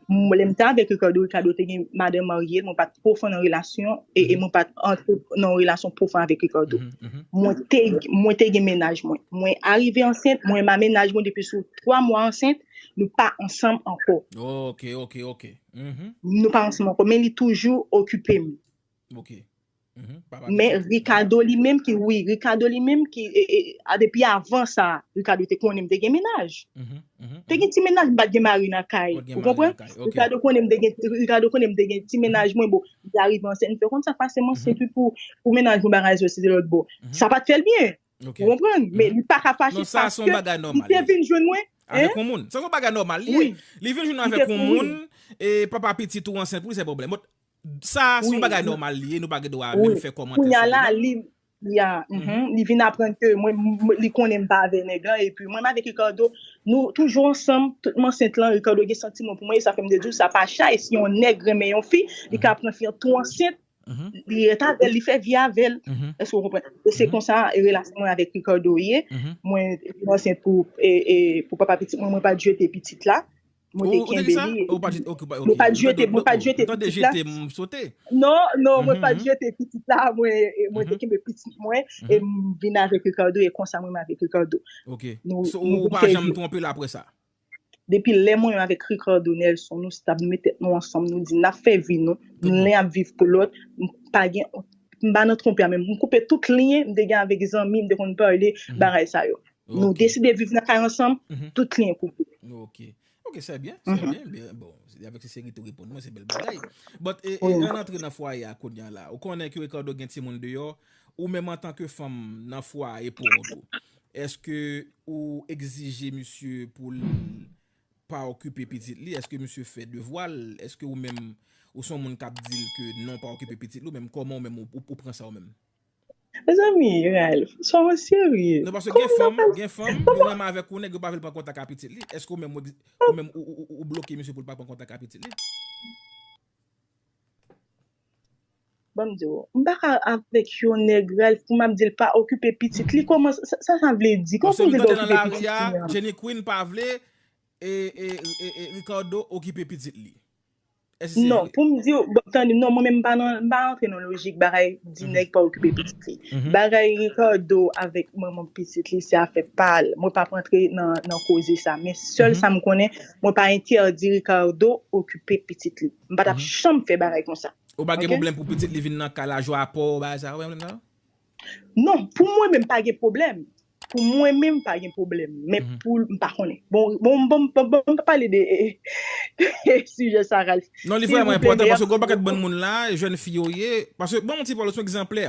Mwen lè m te avèk Ricardo, Ricardo te gen madan marye, mwen pat pwofon nan relasyon e e mwen pat antre nan relasyon pwofon avèk Ricardo. Mwen te mwen te gen mennaj mwen. Mwen arive ansent, mwen ma mennaj mwen depi sou 3 mwa ansent, nou pa ansanm ankò. Ok, ok, ok. Nou pa ansanm ankò, men li toujou okipe m. Ok. Men Ricardo li menm ki wi, Ricardo li menm ki, a depi avan sa, Ricardo te konnen m te gen mennaj. Te gen ti mennaj m pat gen mari nan kay. Ou konprann? Ricardo konnen m te gen, Ricardo konnen m te gen ti mennaj mwen bon, m te arive ansent, m fè konn sa pase m ansent wi pou pou mennaj mwen bagay sa yo se te lòt bò. Sa pat fè l byen. Ou konprann? Men li pa ka fache paske li te vin jwenn mwen. Avèk yon moun. Sa son bagay nòmal li ye. Li vin jwenn avèk yon moun e papa pitit ou ansent pou li se pwoblèm. Sa a son bagay nòmal li ye, nou pa gen dwa menm fè kòmantè sou li non. Kounya la, ya, li vin aprann ke mwen, li konnen m pa avè nèg lan, epi mwen m avèk Ricardo, nou toujou ansanm, tout m ansent lan, Ricardo gen santiman pou mwen, e sa fè m te di w sa pa chay, si yon nèg renmen yon fi, li ka pran fi an tou ansent, li ret avè l, li fè vi avè l, èske w konprann? E se konsa relasyon mwen avèk Ricardo ye, mwen te vin ansent pou papa pitit mwen, mwen pa t jete pitit la. Mwen te kenbe li. Ou te ki sa? Mwen pa t jete pitit la. Mwen pa t jete pitit la. Jete m sote. Non, non, mwen pa t jete pitit la. Mwen te kenbe pitit mwen e m vin avèk Ricardo e konsa mwen avèk Ricardo. Ok. Ou pa janm twonpe l apre sa? Depi lè mwen avèk Ricardo Nelson nou stab, nou met tèt nou ansanm, nou di n ap fè vi nou, nou len ap viv pou lòt, m pa gen, m pa nan twonpe a menm. M koupe tout lyen m te gen avèk zanmi m te konn pale bagay sa yo. Nou deside viv nan kay ansanm, tout liyen koupe. Ok, ok, sè byen, sè byen. Bon, avèk se seri tou reponn mwen, se bèl bagay. Bòt, e nan antre nan fwaye a koun yan la, ou konnen ki Ricardo gen ti moun deyò, ou menm an tanke fanm nan fwaye pou ou tou. Eske ou egzije misye pou l pa okipe pitit li, eske misye fè devwa l, eske ou menm ou son moun kap di l ke non pa okipe pitit li, ou menm kòman ou menm ou pran sa ou menm? Mezanmi Ralph swa mwen serye. Non paske gen fanm, gen fanm yo renmen avèk ou nèg yo pa vle l pran kontak a pitit li, èske ou menm ou ou menm ou bloke misye pou l pa pran kontak a pitit li? Banm di w, m paka avèk yon nèg Ralph pou map di l pa okipe pitit li, kòman sa sa vle di, kòman pou m di l pa okipe pitit li an? Jenny Queen pa vle Ricardo okipe pitit li. Non, pou m di w, bon, tande, non, mwen menm m pa nan, m pa rantre nan lojik bagay di nèg pa okipe pitit li. Bagay Ricardo avèk manman pitit li se afè pa l, mwen pa p rantre nan, nan koze sa. Men sèl sa m konnen, mwen pa entèdi Ricardo okipe pitit li. M pa t ap janm fè bagay konsa. Ou pa gen pwoblèm pou pitit li vin nan kay la jwe apò, bagay sa, ou pa gen pwoblèm sa yo? Non pou mwen menm pa gen pwoblèm pou mwen menm pa gen pwoblèm men pou m pa konnen bon bon m pa pale de e sijè sa Ralph non li vrèman enpòtan paske gwo pakèt bann moun la jèn fi yo ye paske banm yon ti pale ou se yon egzanplè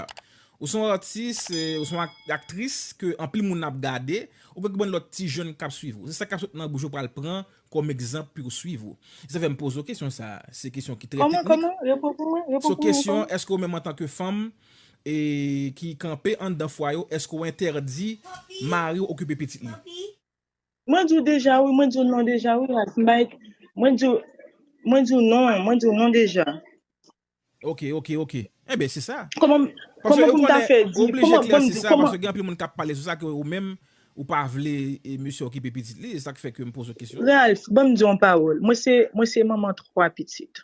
ou se yon atis ou se yon aktris ke anpil moun ap gade ou gen bann lòt ti jèn k ap swiv ou se sa k ap sot nan bouch ou pral pran Kòm egzanp pu swiv ou. Sa fè m poze w kesyon sa a. Se kesyon ki trè teknik. Kòman, kòman? Repon pou mwen, repon pou mwen ankò. So kesyon, èske ou menm antan ke fanm e ki kanpe anndan fwaye ou, èske ou entèdi mari w okipe pitit li? Mwen di w deja wi, mwen di w non deja wi Rasmik. Mwen di w, mwen di w non, mwen di w non deja. Ok ok ok enben se sa. Koman Paske koman ou pou m ta konnen fè ou di oblije koman bon m klèsi di w sa koman paske gen anpil moun k ap pale sou sa ke ou menm ou pa vle e mesye okipe pitit li e sa k fè ke m poze w kesyon an. Ralph ban m di w yon pawòl mwen se mwen se manman 3 pitit.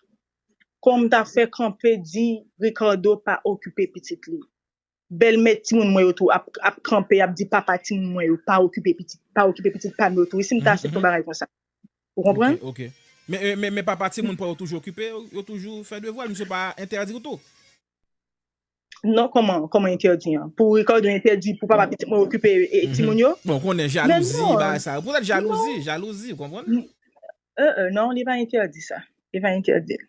Koman m ta fè kanpe di Ricardo pa okipe pitit li? Bèlmè timoun mwen yo tou ap kanpe, ap di papa timoun mwen yo, pa okipe pitit, pa okipe pitit pa m yo tou wi, si m ta asepte yon bagay konsa. Ou konprann? Ok, ok. Men, men papa timoun pa yo toujou okipe, yo toujou fè devwa l, misye pa entèdi w tou? Non, kòman, kòman entèdi an? Pou Ricardo entèdi pou papa pitit mwen okipe timoun yo? Bon, ou konnen jalouzi, bagay sa yo. Poutèt jalouzi, jalouzi, ou konprann? Non, li pa entèdi sa. Li pa entèdi l.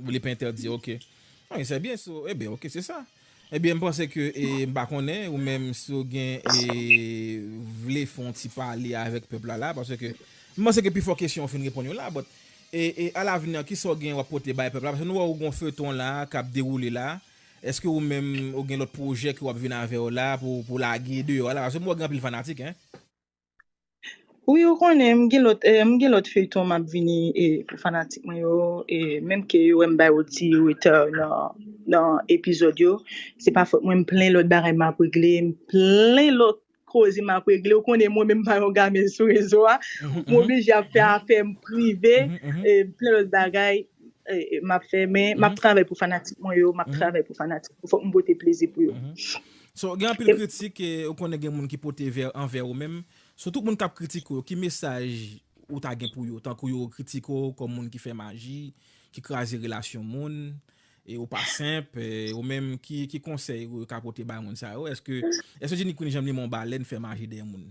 Li pa entèdi ok. Ok se byen so e byen ok se sa. E byen m panse ke e m pa konnen ou menm si w gen e vle fè yon ti pale avèk pèp la la paske ke m panse ke pi fò kesyon ou fin reponn yo la but e e a lavni an kisa w gen w ap pote bay pèp la paske nou wè w gen yon feyton la k ap dewoule la èske ou menm ou gen lòt pwojè ke w ap vin avè yo la pou pou w lage deyò a la paske m wè w gen anpil fanatik hein. Wi ou konnen m gen lòt m gen lòt feyton map vini e pou fanatik mwen yo e menm ke yo wè m bay yon ti retè nan nan epizòd yo se pa fòt mwen m plen lòt bagay map regle m plen lòt koze map regle ou konnen mwen menm m pa yon game sou rezo a m oblije ap fè afè m prive e m plen lòt bagay e map fè men map travay pou fanatik mwen yo map travay pou fanatik mwen yo fòk m pote plezi pou yo. So gen anpil kritik e ou konnen gen moun ki pote ver anvè ou menm, so tout moun kap kritike ou yo ki mesaj ou ta gen pou yo tankou yo kritike ou kòm moun ki fè maji, ki kraze relasyon moun e ou pa senp e ou menm ki konsèy ou ka pote bay moun sa yo? Eske Jenny Queen Janm Limon Balèn fè maji dèyè moun?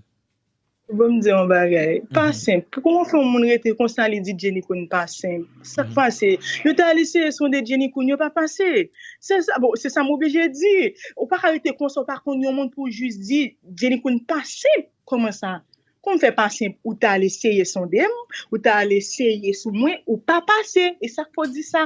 Bon m di yon bagay, pa senp. Pou kòman fè yon moun rete konsa li di Jenny Queen pa senp? Sak pase? Yo te al eseye sonde Jenny Queen, yo pa pase. Se sa, bon, se sa m oblije di. Ou pa ka rete konsa, ou pa konn yon moun pou w jis di Jenny Queen pa senp. Kòman sa? Kòman m fè pa senp? Ou te al eseye sonde m, ou te al eseye sou mwen, ou pa pase. E sak fè w di sa?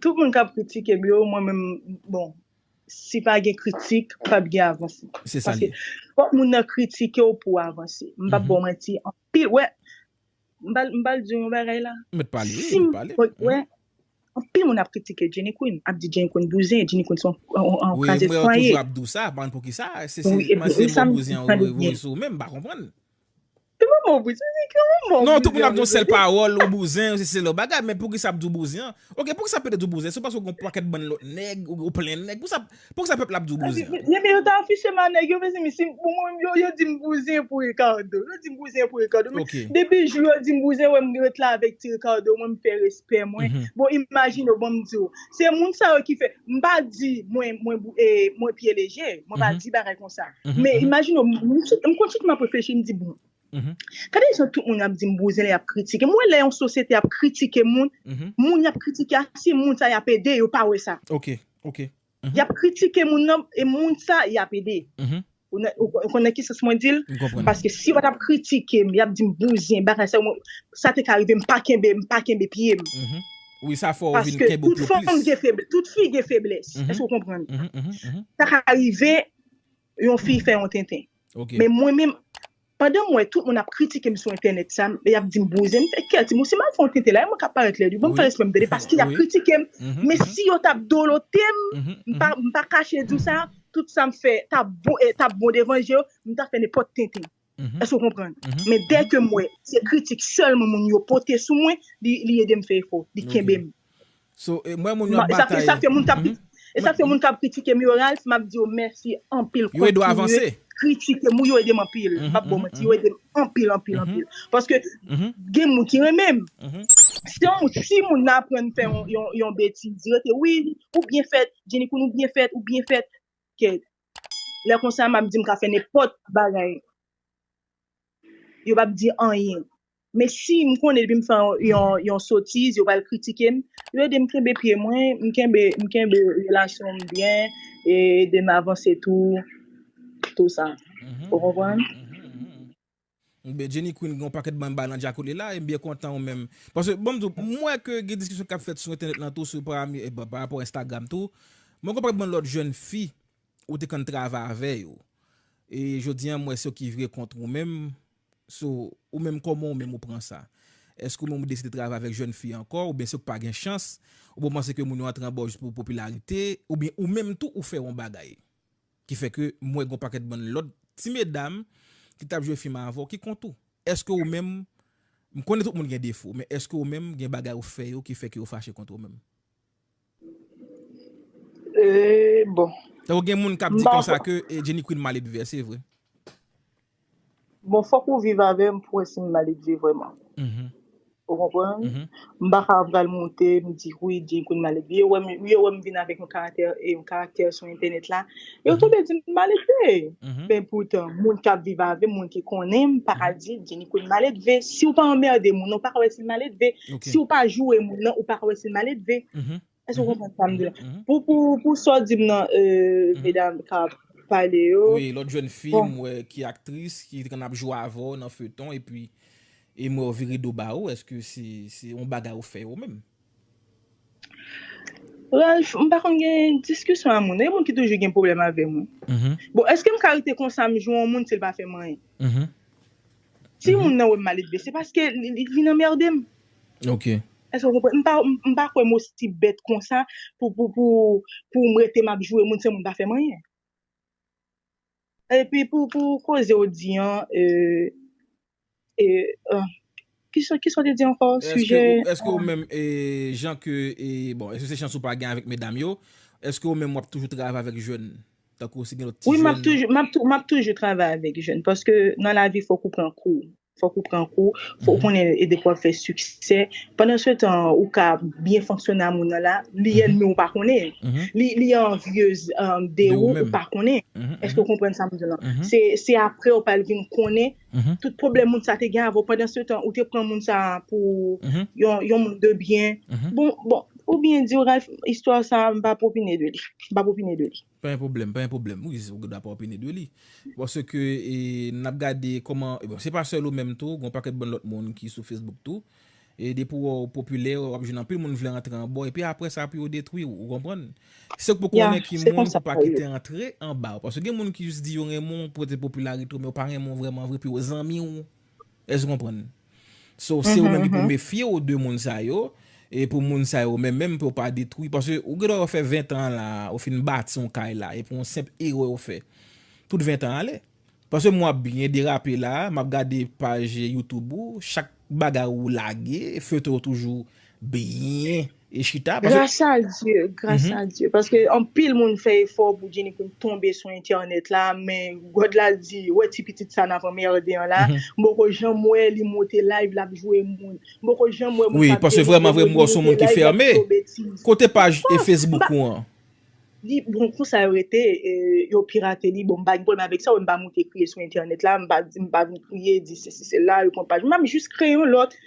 Tout moun kap kritikem yo mwen menm bon si pa gen kritik pap gen avanse paske fòk moun nan kritikew pouw avanse m pap baw manti anpil wè m pral diw yon bagay la sim wè anpil moun ap kritike Jenny Queen ap di Jenny Queen bouzen Jenny Queen son kraze fwaye wi esam tande byen. Se pa mo bouzen, se ki yon mo bouzen. Non, tout moun ap di yon sèl pawòl, yon bouzen, yon sèl lò bagay, men pou ki sa ap di yon bouzen an? Ok, pou ki sa pèp te di yon bouzen? Se paske ou gen yon pakèt bann lòt nèg, ou plen nèg, pou ki sa pèp la ap di yon bouzen? Mezanmi, yo ta afiche m a nèg yo, mezanmi, si pou mwen, yo di m bouzen pou Ricardo, yo di m bouzen pou Ricardo, men depi jou yo di m bouzen, wè m ret la avèk ti Ricardo mwen, m fè respè mwen, bon imajine w, bon m di w. Se moun sa yo ki fè, m pa di mwen mwen bou e mwen pye leje, mwen pa di bagay konsa. Men imajine w, m sou m konn sou m ap reflechi m di bon, gade jan tout moun ap di m bouzen lè y ap kritike m, ou wè lè yon sosyete ap kritike moun, moun y ap kritike a se moun sa y ap ede yo pa wè sa. Y ap kritike moun nan e moun sa y ap ede. Ou konnen ki sans mwen di l? Paske si yo pa t ap kritike m, y ap di m bouzin, bagay sa yo, sa te ka rive m pa kenbe, m pa kenbe pye m. Paske tout fanm gen feblès, tout fi gen feblès. Èske ou konprann? Sa ka rive yon fi fè yon tenten. Men mwen menm, Pandan m wè tout moun ap kritike m sou entènèt sa m e y ap di m bouzen, m fè kè di m ou si m al fè yon tenten la e mwen k ap parèt lèd wi, ban m fè respè m tande paske y ap kritike m men si yo t ap dolote m, m pa kache di w sa, tout sa m fè t ap bon e t ap bon devan je yo, m ta fè nenpòt tenten. Èske w konprann? Men dèke m wè se kritik sèlman moun yo pote sou mwen, li ede m fè efò, li kenbe m. So mwen moun yo ap batay. E sa fè moun kap kritike e sa fè moun kap kritike murals map di yo mèsi anpil kontinye kritike mou yo edem anpil mpap baw manti yo edem anpil anpil anpil paske gen moun ki renmenm si yon moun si moun nan aprann fè yon yon betiz rete wi ou byen fèt jenikoun ou byen fèt ou byen fèt kèt lè konsa map di mka fè nenpòt bagay. yo pap di anyen. Men si m konnen depi m fè yon sotiz yo pral kritike m, yo ede m kenbe pye mwen, m kenbe m kenbe relasyon m byen e ede m avanse tou tou sa. Ou konprann? Jenny Queen gen yon pakèt bagay bay nan djakout la e m byen kontan ou menm. Paske banm di w, m wè ke gen diskisyon k ap fèt sou entènèt lan tou sou pa rapò Instagram tou. Mwen gen yon pakèt bann lòt jèn fi Ou te konn travay avè yo. E jodi an m wè se yo ki vire kont ou menm. So, ou menm kòman ou menm ou pran sa? Èske ou menm ou deside travay avèk jèn fi ankò oubyen se ou k pa gen chans? Oubyen ou panse ke moun yo antre anba w jis pou popilarite? Oubyen ou menm tou ou fè yon bagay? Ki fè ke m wè gen yon pakèt bann lòt ti medam ki t ap jwe fim avè w ki kont ou. Èske ou menm, m konnen tout moun gen defo, men èske ou menm gen bagay ou fè yo ki fè ke yo fache kont ou menm? Eee bon. Tankou gen moun kap di konsa ke Jenny Queen mal edve se vre. Bon fok ou viv avem pou we sim mal edve vreman. Ou konprann? M pa ka pral moute m di wi Jenny Queen mal edve. Yo wem vin avek yon karaktè sou entenet la. Yo tobe di m maledve. Men poutan, moun k ap viv avè m, moun ki konnen m, pa ka di Jenny Queen maledve. Si w pa anmède moun nan, ou pa ka wè si l maledve. Si w pa joure moun nan, ou pa ka wè si l maledve. Èske w konprann sa m di la? Pou sa w di m nan, medam k ap pale yo. Wi, lòt jèn fi m wè ki aktris, ki te konn ap jwe avè w nan feyton, epi m wè w vire do ba yo, èske se yon bagay ou fè yo menm? Ralph, m pa konn gen diskisyon a moun. Gen moun ki toujou gen pwoblèm avè mwen. Bon, èske m ka rete konsa m jwe yon moun si l pa fè m anyen? Si moun nan wè m maledve, se paske li vin anmède m. Èske w konprann? M pa kwè m osi bèt konsa pou m rete m ap jwe moun san moun pa fè m anyen. Epi pou koze ou di an Kisa ou te di ankò sijè Eske ou menm jan ke bon eske se chans ou pa gen avèk medam yo Eske ou menm wap toujou travay avèk jèn tankou si gen lòt ti jèn Wi map toujou travay avèk jèn paske nan lavi fòk ou pran kou Fòk ou pran kou, fòk ou konnen e de pou ap fè siksè. Pandan se tan, ou ka byen fonksyone a moun nan la, li ènmi ou pa konnen. Li anvyez de ou, ou pa konnen. Èske ou konprann sa m di w lan? Se apre ou pral vin konnen tout pwoblèm moun sa te gen avè w. Pandan se tan, ou te pran moun sa pou yon moun de byen. Bon, bon, pou byen di w Ralph, istwa sa m pa pou opine de li. M pa pou opine de li. Pa gen pwoblèm, pa gen pwoblèm. Wi, ou gen dwa pa opine de li. Paske n ap gade kòman, bon se pa sèl ou menm tou, gen yon pakèt bann lòt moun ki sou Facebook tou. E depi w popilè, w ap jwenn anpil moun vle rantre anba w epi apre sa pou yo detwi w, ou konprann. Se w k pou konnen ki moun pou pa kite rantre anba w. Paske gen moun ki jis di yo renmen w pou pote popilarite w men yo pa renmen w vrèman vre epi yo zanmi w. Èske w konprann? So, se ou menm ki pou mefye w de moun sa yo, e pou moun sa yo menm menm pou yo pa detwi, paske ou gen dwa ou fè 20 tan an la, ou fin bati yon kay la, e pou yon senp erè ou fè, tout 20 tan ale. Paske m wè w ap byen derape la, m ap gade paj YouTube ou, chak bagay ou lage, feutre ou toujou byen e chita paske. Gras a Dye, gras a Dye. Paske anpil moun fè efò pou Jenny Queen tonbe sou entènèt la, men God la di, wè ti pitit sa nap anmerde an la, m poko janm wè li monte live lap jwe moun. M poko janm wè moun kap denigre moun, li monte live lap di yo betiz. Kote paj e Facebook ou an? Li, bon konsa yo rete, yo pirate li, bon m pa gen pwoblèm avèk sa, m pa monte kriye sou entènèt la, m pa di, m pa vin kriye di sesi sela, yo pran paj mwen, m jis kreye yon lòt.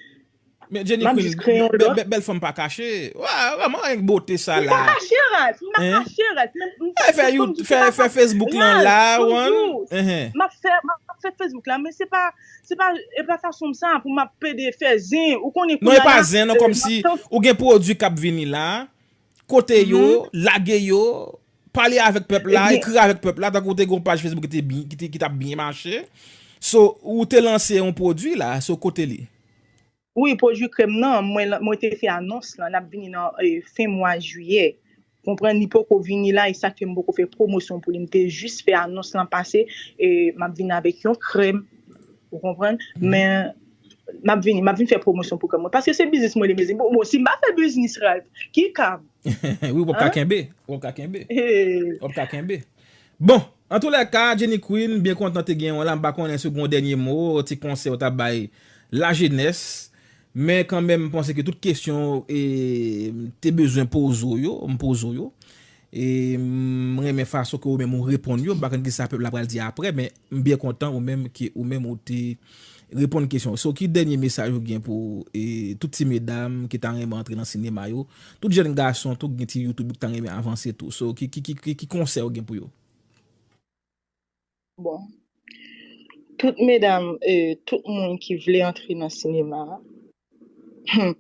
Men Jenny Map jis kreye yon Queen, lòt. bèl fanm pa kache. Wa, wa m'en ank bote sa M la. pa kache ras, m pa Hein? kache ras, men m Fè fè you, fè fè Facebook lan la, ras, wan. bonjour. Ehe. Map fè, map fè Facebook la, men se pa, se pa, e pa fason m sa pou map pede fè zen, ou konnen Non e kounye a pa la, zen non, e kòm si map tan ou gen pwodwi kap vini la. Kote yo, lage yo, pale avèk pèp la, ekri avèk pèp la, tankou te gen yon paj Facebook ki tap byen mache, so ou te lanse yon pwodwi la, so kote li? Wi, pwodwi krèm nan, mwen te fè anons lan, lap vini nan fen mwa jiyè, konprann, li poko vini la, e sak fè m poko fè pwomosyon pou li, m te jis fè anons lan pase, e map vini avèk yon krèm. Ou konprann? Men, m ap vini, m ap vin fè pwomosyon pou kè mwen. Paske se biznis mwen li mezanmi. Bon, bon, si m pa fè biznis, Ralph, ki ka m? Wi, w ap ka kenbe. W ap ka kenbe. W ap ka kenbe. Bon, an tou lè ka, Jenny Queen, m byen kontan te genyen w la. M pa konnen si w gen yon dènye mo, yon ti konsèy w ta bay lajenès. Men kanmenm, m panse ke tout kesyon e m te bezwen poze w yo, m poze w yo. E m renmen fason ke ou menm ou reponn yo. M pa konn kisa pèp la pral di apre, men. M byen kontan ou menm ke ou menm ou te reponn kesyon. So ki dènye mesaj ou gen pou tout ti medam ki ta renmen antre nan sinema yo? Tout jèn gason tou ki gen ti youtube yo ki ta renmen avanse tou. So ki konsèy ou gen pou yo? Bon tout medam tout moun ki vle antre nan sinema humm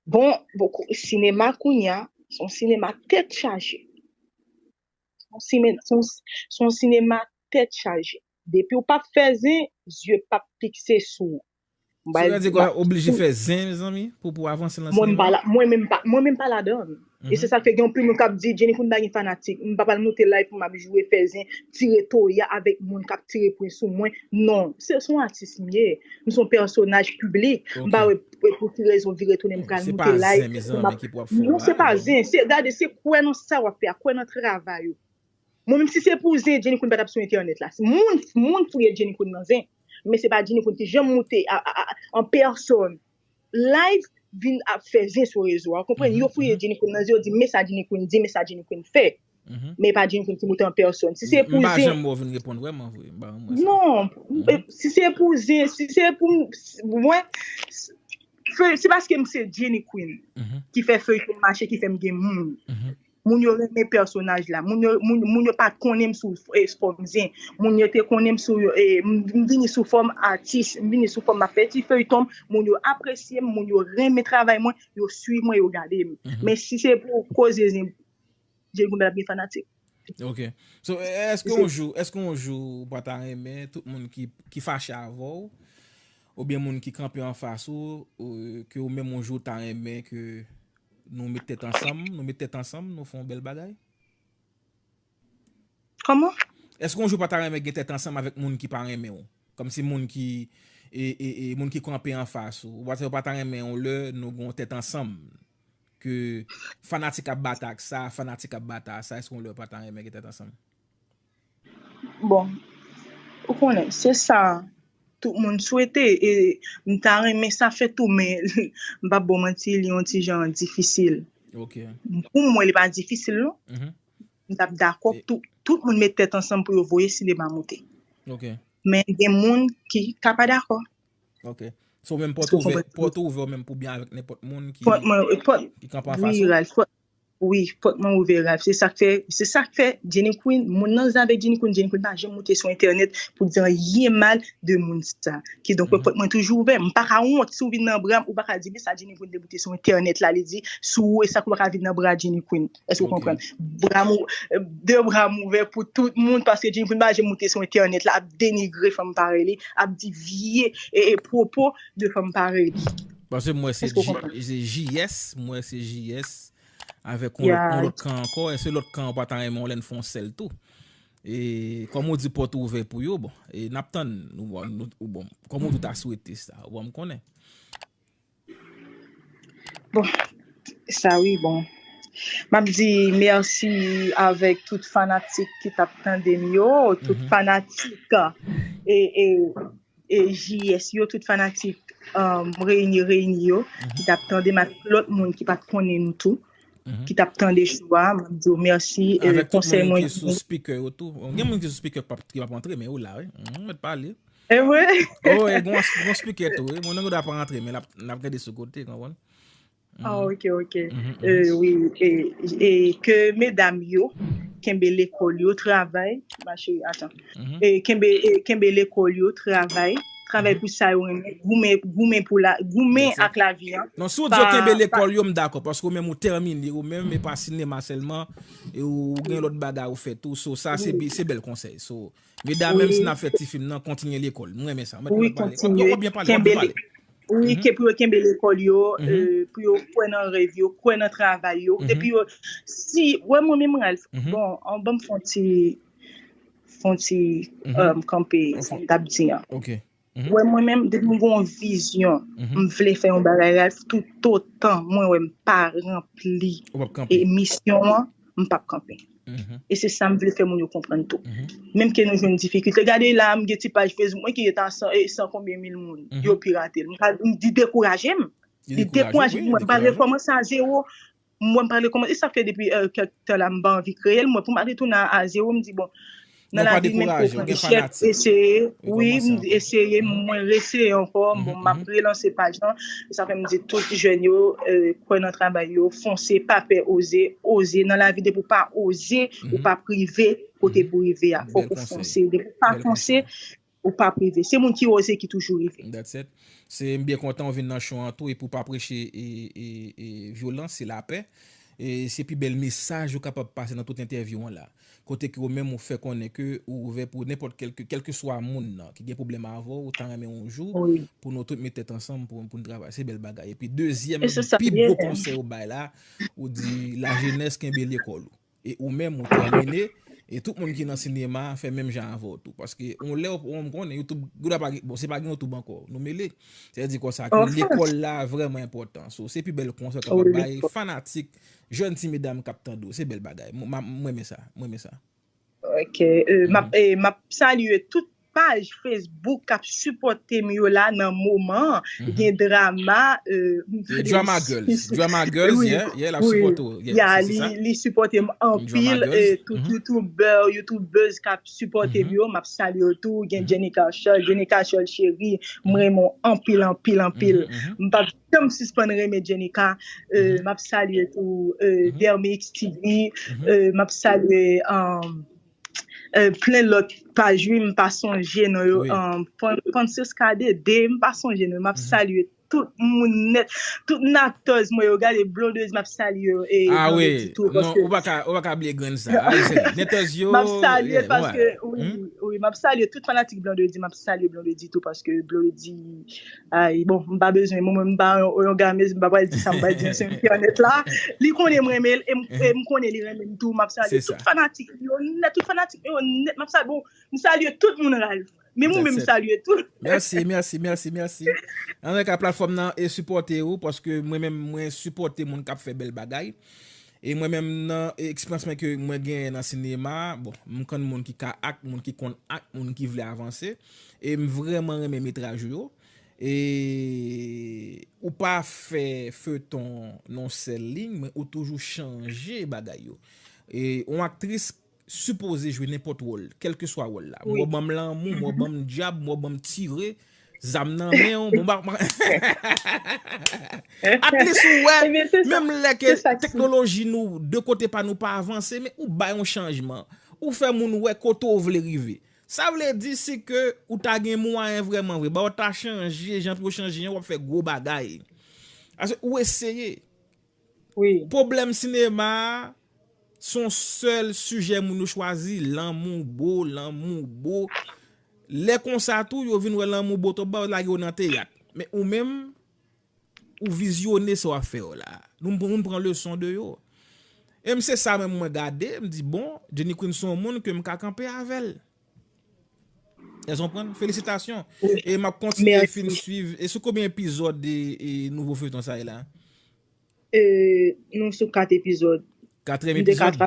bon sinema kounya son sinema tèt chaje. Son sinema tèt chaje. Depiw pap fè zen, zye pap fikse sou ou. Sou rèd se kwa ou oblije fè zen mezanmi pou pou avanse nan sinema? Mwen menm pa, mwen menm pa ladann. E se sak fè gen yon pil moun kap di Jenny Foun pa gen fanatik. M pa pral moute live pou map jwe, fè zen, tire toya avèk moun kap tire pwen sou mwen. Non, se son atis m ye. M son pèsonaj piblik. M pa wè. E pou ki rezon vire tounen m pral Se pa moute zen like pou mezanmi map ki pou ap fè w Non se mal pa zen, se gade se kwè nan sa wap fè a, kwè nan travay ou. Mwen menm si se pou zen Jenny Queen pa tap sou entènèt la. Moun moun fouye Jenny Queen nan zen, men se pa Jenny Queen ki janm moute a, a, a, an pèsòn live vin ap fè zen sou rezo a. Ou konprann? Yo fouye Jenny Queen nan zen yo di men sa Jenny Queen di, men sa Jenny Queen fè. Men pa di m vin timoute an pèsòn. Si se pou zen. M pa janm wè w vin reponn vrèman vre. M pa janm wè sa. Non. Si se pou zen. Si se pou m. Mwen. Se paske m se Jenny Queen. Ki fè feyton mache ki fè m gen moun. Moun yo renmen pèsonaj la. Moun yo pa t konnen m sou fòm zen. Moun yo te konnen m sou. M vini sou fòm atis. M vini sou fòm m ap fè ti feyton m. Moun yo apresye m. Moun yo renmen travay mwen. Yo swiv mwen yo gade m. Men si se pou koze zen. Jay goumen ap gen fanatik. Ok. So eske yon jou, eske yon jou ou pa ta renmen tout moun ki fache avè w ou byen moun ki kanpe an fas ou ke ou menm yon jou ta renmen ke nou met tèt ansanm, nou met tèt ansanm nou fè yon bèl bagay? Kòman? Eske yon jou ou pa ta renmen gen tèt ansanm avèk moun ki pa renmen w? Kòm si moun ki e, e, e, moun ki kanpe an fas ou. Ou pa ta renmen yon lè nou gen yon tèt ansanm. ke fanatik ap bata ak sa, fanatik ap bata a sa, èske yon lè yo pa ta renmen gen tèt ansanm? Bon, ou konnen, se sa tout moun swete e m ta renmen sa fèt tou men m p ap ba w manti li yon ti jan difisil. Ok. Pou mwen li pa difisil non. M t ap dakò pou tout moun met tèt ansanm pou yo voye sinema moute. Ok. Men gen moun ki ka pa dakò. Ok. So menm pòt ouvè, pòt ou ouvè ou menm pou byen avèk nenpòt moun ki kanpe an fas ou? Wi, pòt mwen ouvè Ralph. Se sak fè, se sak fè Jenny Queen, moun nan zen avèk Jenny Queen, Jenny Queen pa janm moute sou entènèt pou di anyen mal de moun sa. Kidonk mwen pòt mwen toujou ouvè. M pa ka wont si w vin nan bra m, ou pa ka di men sa Jenny Queen te moute sou entènèt la li di sou ou e sa k ou pa ka vin nan bra Jenny Queen. Èske ou konprann? Bra mou, de bra m ouvè pou tout moun paske Jennifer pa janm moute sou entènèt la ap denigre fanm parèy li, ap di vye pwopo de fanm parèy li. Paske m wè se JS, m wè se JS avèk yon lòt kan ankò, èske lòt kan an pa ta renmen w lè n fè yon sèl tou? E kòm ou di pòt ou ouvè pou yo, bon, e n ap tann, ou bon, kòm ou di w ta swete sa, ou ban m konnen. Bon sa wi bon map di mèsi avèk tout fanatik ki tap tande m yo tout fanatik JS yo tout fanatik reyini reyini yo ki tap tande m ak lòt moun ki pat konnen nou tou ki tap tande chou a map di yo mèsi avèk tout moun ki sou spikè yo tou gen moun ki sou spikè ki pap antre men yo la wi nou mèt pale. E vre? Oh, e gon gon speaker tou. E moun an dwa pa rantre men lap lap gade sou kote, konprann? Ah, Mhm. ok, ok. Mhm, mhm. Euh, oui, et, et que mesdames yo, kenbe l'école yo, travail, ma chérie, attends. Mhm. Et kenbe, et kenbe l'école yo, travail, travail Mhm. pou sa yo renmen, goumen, goumen pou la, goumen Yes, sir. ak la vie, hein. Non, si ou di yo Pa, kenbe pa, lekòl yo, m dakò, paske ou menm ou termine ou menm, e pa sinema sèlman, e ou gen oui, lòt bagay ou fè tou, so sa se, oui. bi- se bèl konsèy, so Medamems nap fè ti film nan kontinye lekol m renmen sa wi kontinye kenbe lekol wi ke pou yo kenbe lekol yo pou yo kwè nan rèv yo kwè nan travay yo depi yo si wè mwen menm Ralph bon an banm fon ti fon ti kanpe sa m tap di an ok. Wè mwen menm depi m gen yon vizyon m vle fè yon bagay reyal toutotan mwen wè m pa ranpli misyon an m pap kanpe e se sa m vle fè moun yo konprann tou menm ke nou jwenn difikilte gade la m gen ti paj facebook mwen ki ret a san konbyen mil moun yo pirate l li dekouraje m li dekouraje m m pa rekòmanse a zewo m wè m pa vle kòmanse, e sa fè depi kèk tan la m pa anvi kreye l, m wè pou m retounen a a zero, m di bon nan lavi menm ke w pran echèk, eseye, wi, m di eseye, mwen reeseye ankò, bon m ap relanse paj lan, e sa fè m di tout jèn yo kwè nan travay yo, fonse, pa pè, oze, oze, nan lavi depi w pa oze, ou p ap rive kote pou rive a, fòk ou fonse, depi w pa fonse, Ou pap rive. Se moun ki oze ki toujou rive. That's it. Se m byen kontan ou vin nan show an tou epi ou pa preche vyolans, se lapè. Se pi bèl mesaj ou kapab pase nan tout entèvyou an la. Kote ke ou menm ou fè konnen ke ou ouvè pou nenpòt kèlke, kèlkeswa moun nan ki gen pwoblèm avè w, ou ta renmen yon jou pou nou tout met tèt ansanm pou n travay. Se bèl bagay. Epi dezyèm pi gwo konsèy ou bay la, ou di lajenès kenbe lekòl ou. E ou menm ou tèmine, e tout moun ki nan sinema a fè menm jan avè w tou. Paske yon lè ou menm konnen youtube, gouda pa gen, bon se pa gen youtube ankò, nou mele. Se di konsa ke lekòl la vrèman enpòtan. So se pi bèl konsèy w kapab bay fanatik, jèn ti medam k ap tande w. Se bèl bagay. M renmen sa, m renmen sa. Ok, e m ap salye tout. Paj Facebook kap sipòtem yo la nan moman an gen drama euh drama girls drama girls yeah yeah lap sipòte w yeah se sa li sipòtem anpil tout youtuber youtubeuse kap sipòtem yo map salye yo tou gen Jenny Carshol Jenny Carshol cheri m renmen w anpil anpil anpil m pap janm sispann renmen Jenny Car euh map salye tou euh Dermix TV euh map salye euh. plen lot paj wi m pa sonje non yo Francisca Dede m pa sonje non yo map salye tout moun net tout natòz mwen yo gade blondez map salye yo e blondedy tou paske non ou pa ka bliye grenn sa netòz yo map salye paske wi map salye tout fanatik blondedy map salye blondedy tou paske blondedy Ay bon m pa bezwen mwen menm m pa yon gamez m pa pral di sa m pral di sou entènèt la li konnen m renmen l e m konnen li renmen m tou m ap salye tout fanatik m yo nèt tout fanatik m yo nèt m ap salye bon m salye tout moun Ralph menm ou menm m salye tou. Mèsi mèsi mèsi mèsi anreka platfòm nan e sipòte ou paske mwen menm mwen sipòte moun k ap fè bèl bagay E mwen menm nan eksperyans mwen ke mwen genyen nan sinema, bon, m konn moun ki ka act, moun ki konn act, moun ki vle avanse, e m vrèman renmen metraj ou yo, e ou pa fè feuton nan yon sèl liy, men ou toujou chanje bagay yo. E yon aktris sipoze jwe nenpòt wòl kèlkeswa wòl la mwen w banm lanmou mwen w banm dyab mwen w banm tire zam nan men w mwen w atlis ou wè menm lè ke teknoloji nou de kote pa nou pa avanse men ou bay yon chanjman ou fè moun wè kote w vle rive sa vle di si ke ou ta gen mwayen vrèman vre ba w ta chanje jan pou yo chanje w ap fè gwo bagay paske ou eseye. wi. Pwoblèm sinema a son sèl sijè moun yo chwazi lanmou bo lanmou bo lè konsa tou yo vin wè lanmou bo twòp ba yo lage yo nan teyat men ou menm ou vizyone sa wap fè yo la nou moun pran leson de yo em se sa menm mwen gade m di bon Jenny Queen son moun kem ka kanpe avèl. Èske w konprann? Felisitasyon! E m ap kontinye fin swiv. E sou konbyen epizòd de nouvo feyton sa ye la? Nou sou 4 epizòd. Katrèm epizòd?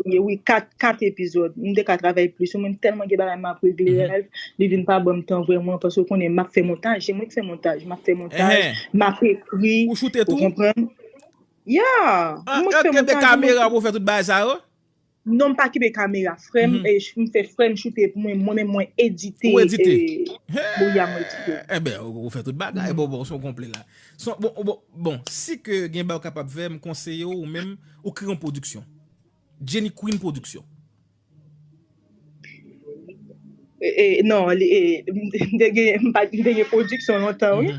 Wi, 4 epizòd. M te ka travay plis. Mwen tèlman gen bagay m ap regle, Ralph. Li vin pa ban m tan vrèman paske ou konnen m ap fè montaj. Se mwen ki fè montaj. M ap fè montaj, m ap ekri. Ou choute tou? Ou konprann? Ya! Mwen ki fè montaj. An, èske w gen kamera pou w fè tout bagay sa yo? Non m pa kenbe kamera frèm m fè frèm choute pou mwen mwen menm mwen edite Ou edite Bon ya mwen edite Enben ou fè tout bagay bon bon son konple la Son bon bon bon si ke gen bagay ou kapab fè m konseye w ou menm ou kreye yon pwodiksyon Jenny Queen production. Non, m te gen, m pa te gen pwodiksyon lontan wi,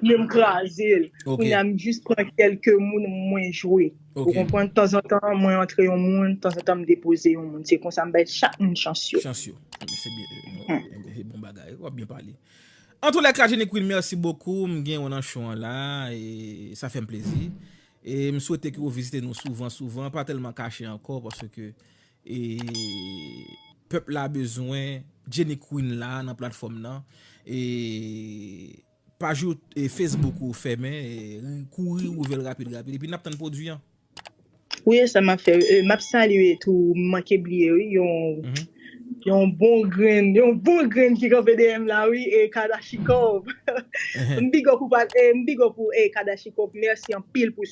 men m kraze l. Kounya m jis pran kelke moun mwen jwe. Ou konprann? Tanzantan mwen antre yon moun, tanzantan m depoze yon moun. Se konsa m bay chak moun chans yo. Chans yo. Se bon bagay. Wap byen pale. An tou lèka Jenny Queen mèsi bokou. M gen ou nan show an la. Sa fè m plezi. E m swete ke ou vizite nou souvan souvan. Pa tèlman kache ankò paske E pèp la bezwen Jenny Queen la nan platfòm nan e paj you e Facebook ou fèmen kouri ouvel rapid rapid epi nap tann pwodwi an. Wi esa map fè wi map salye tou m manke bliye wi yon yon bon grenn yon bon grenn ki kanpe deyèm la wi e kadashikov m big up ou pa m big up ou kadashikov mèsi anpil pou.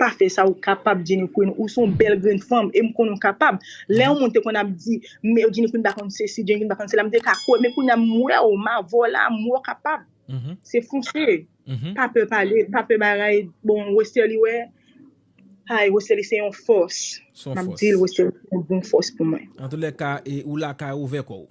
Pa fè sa ou kapab Jenny Queen ou son bèl grenn fanm em konnen ou kapab lè yon moun te konn ap di m Jenny Queen pa konn sesi Jenny Queen pa konn sela m te ka kwè men kounya m wè w ma vò la m wè w kapab se fonse pa pè pale pa pè bagay bon Westerlie wè hay Westerlie se yon fòs m ap di l Westerlie se yon bon fòs pou mwen. Antoulèka ou lakay ou ouvè kò w.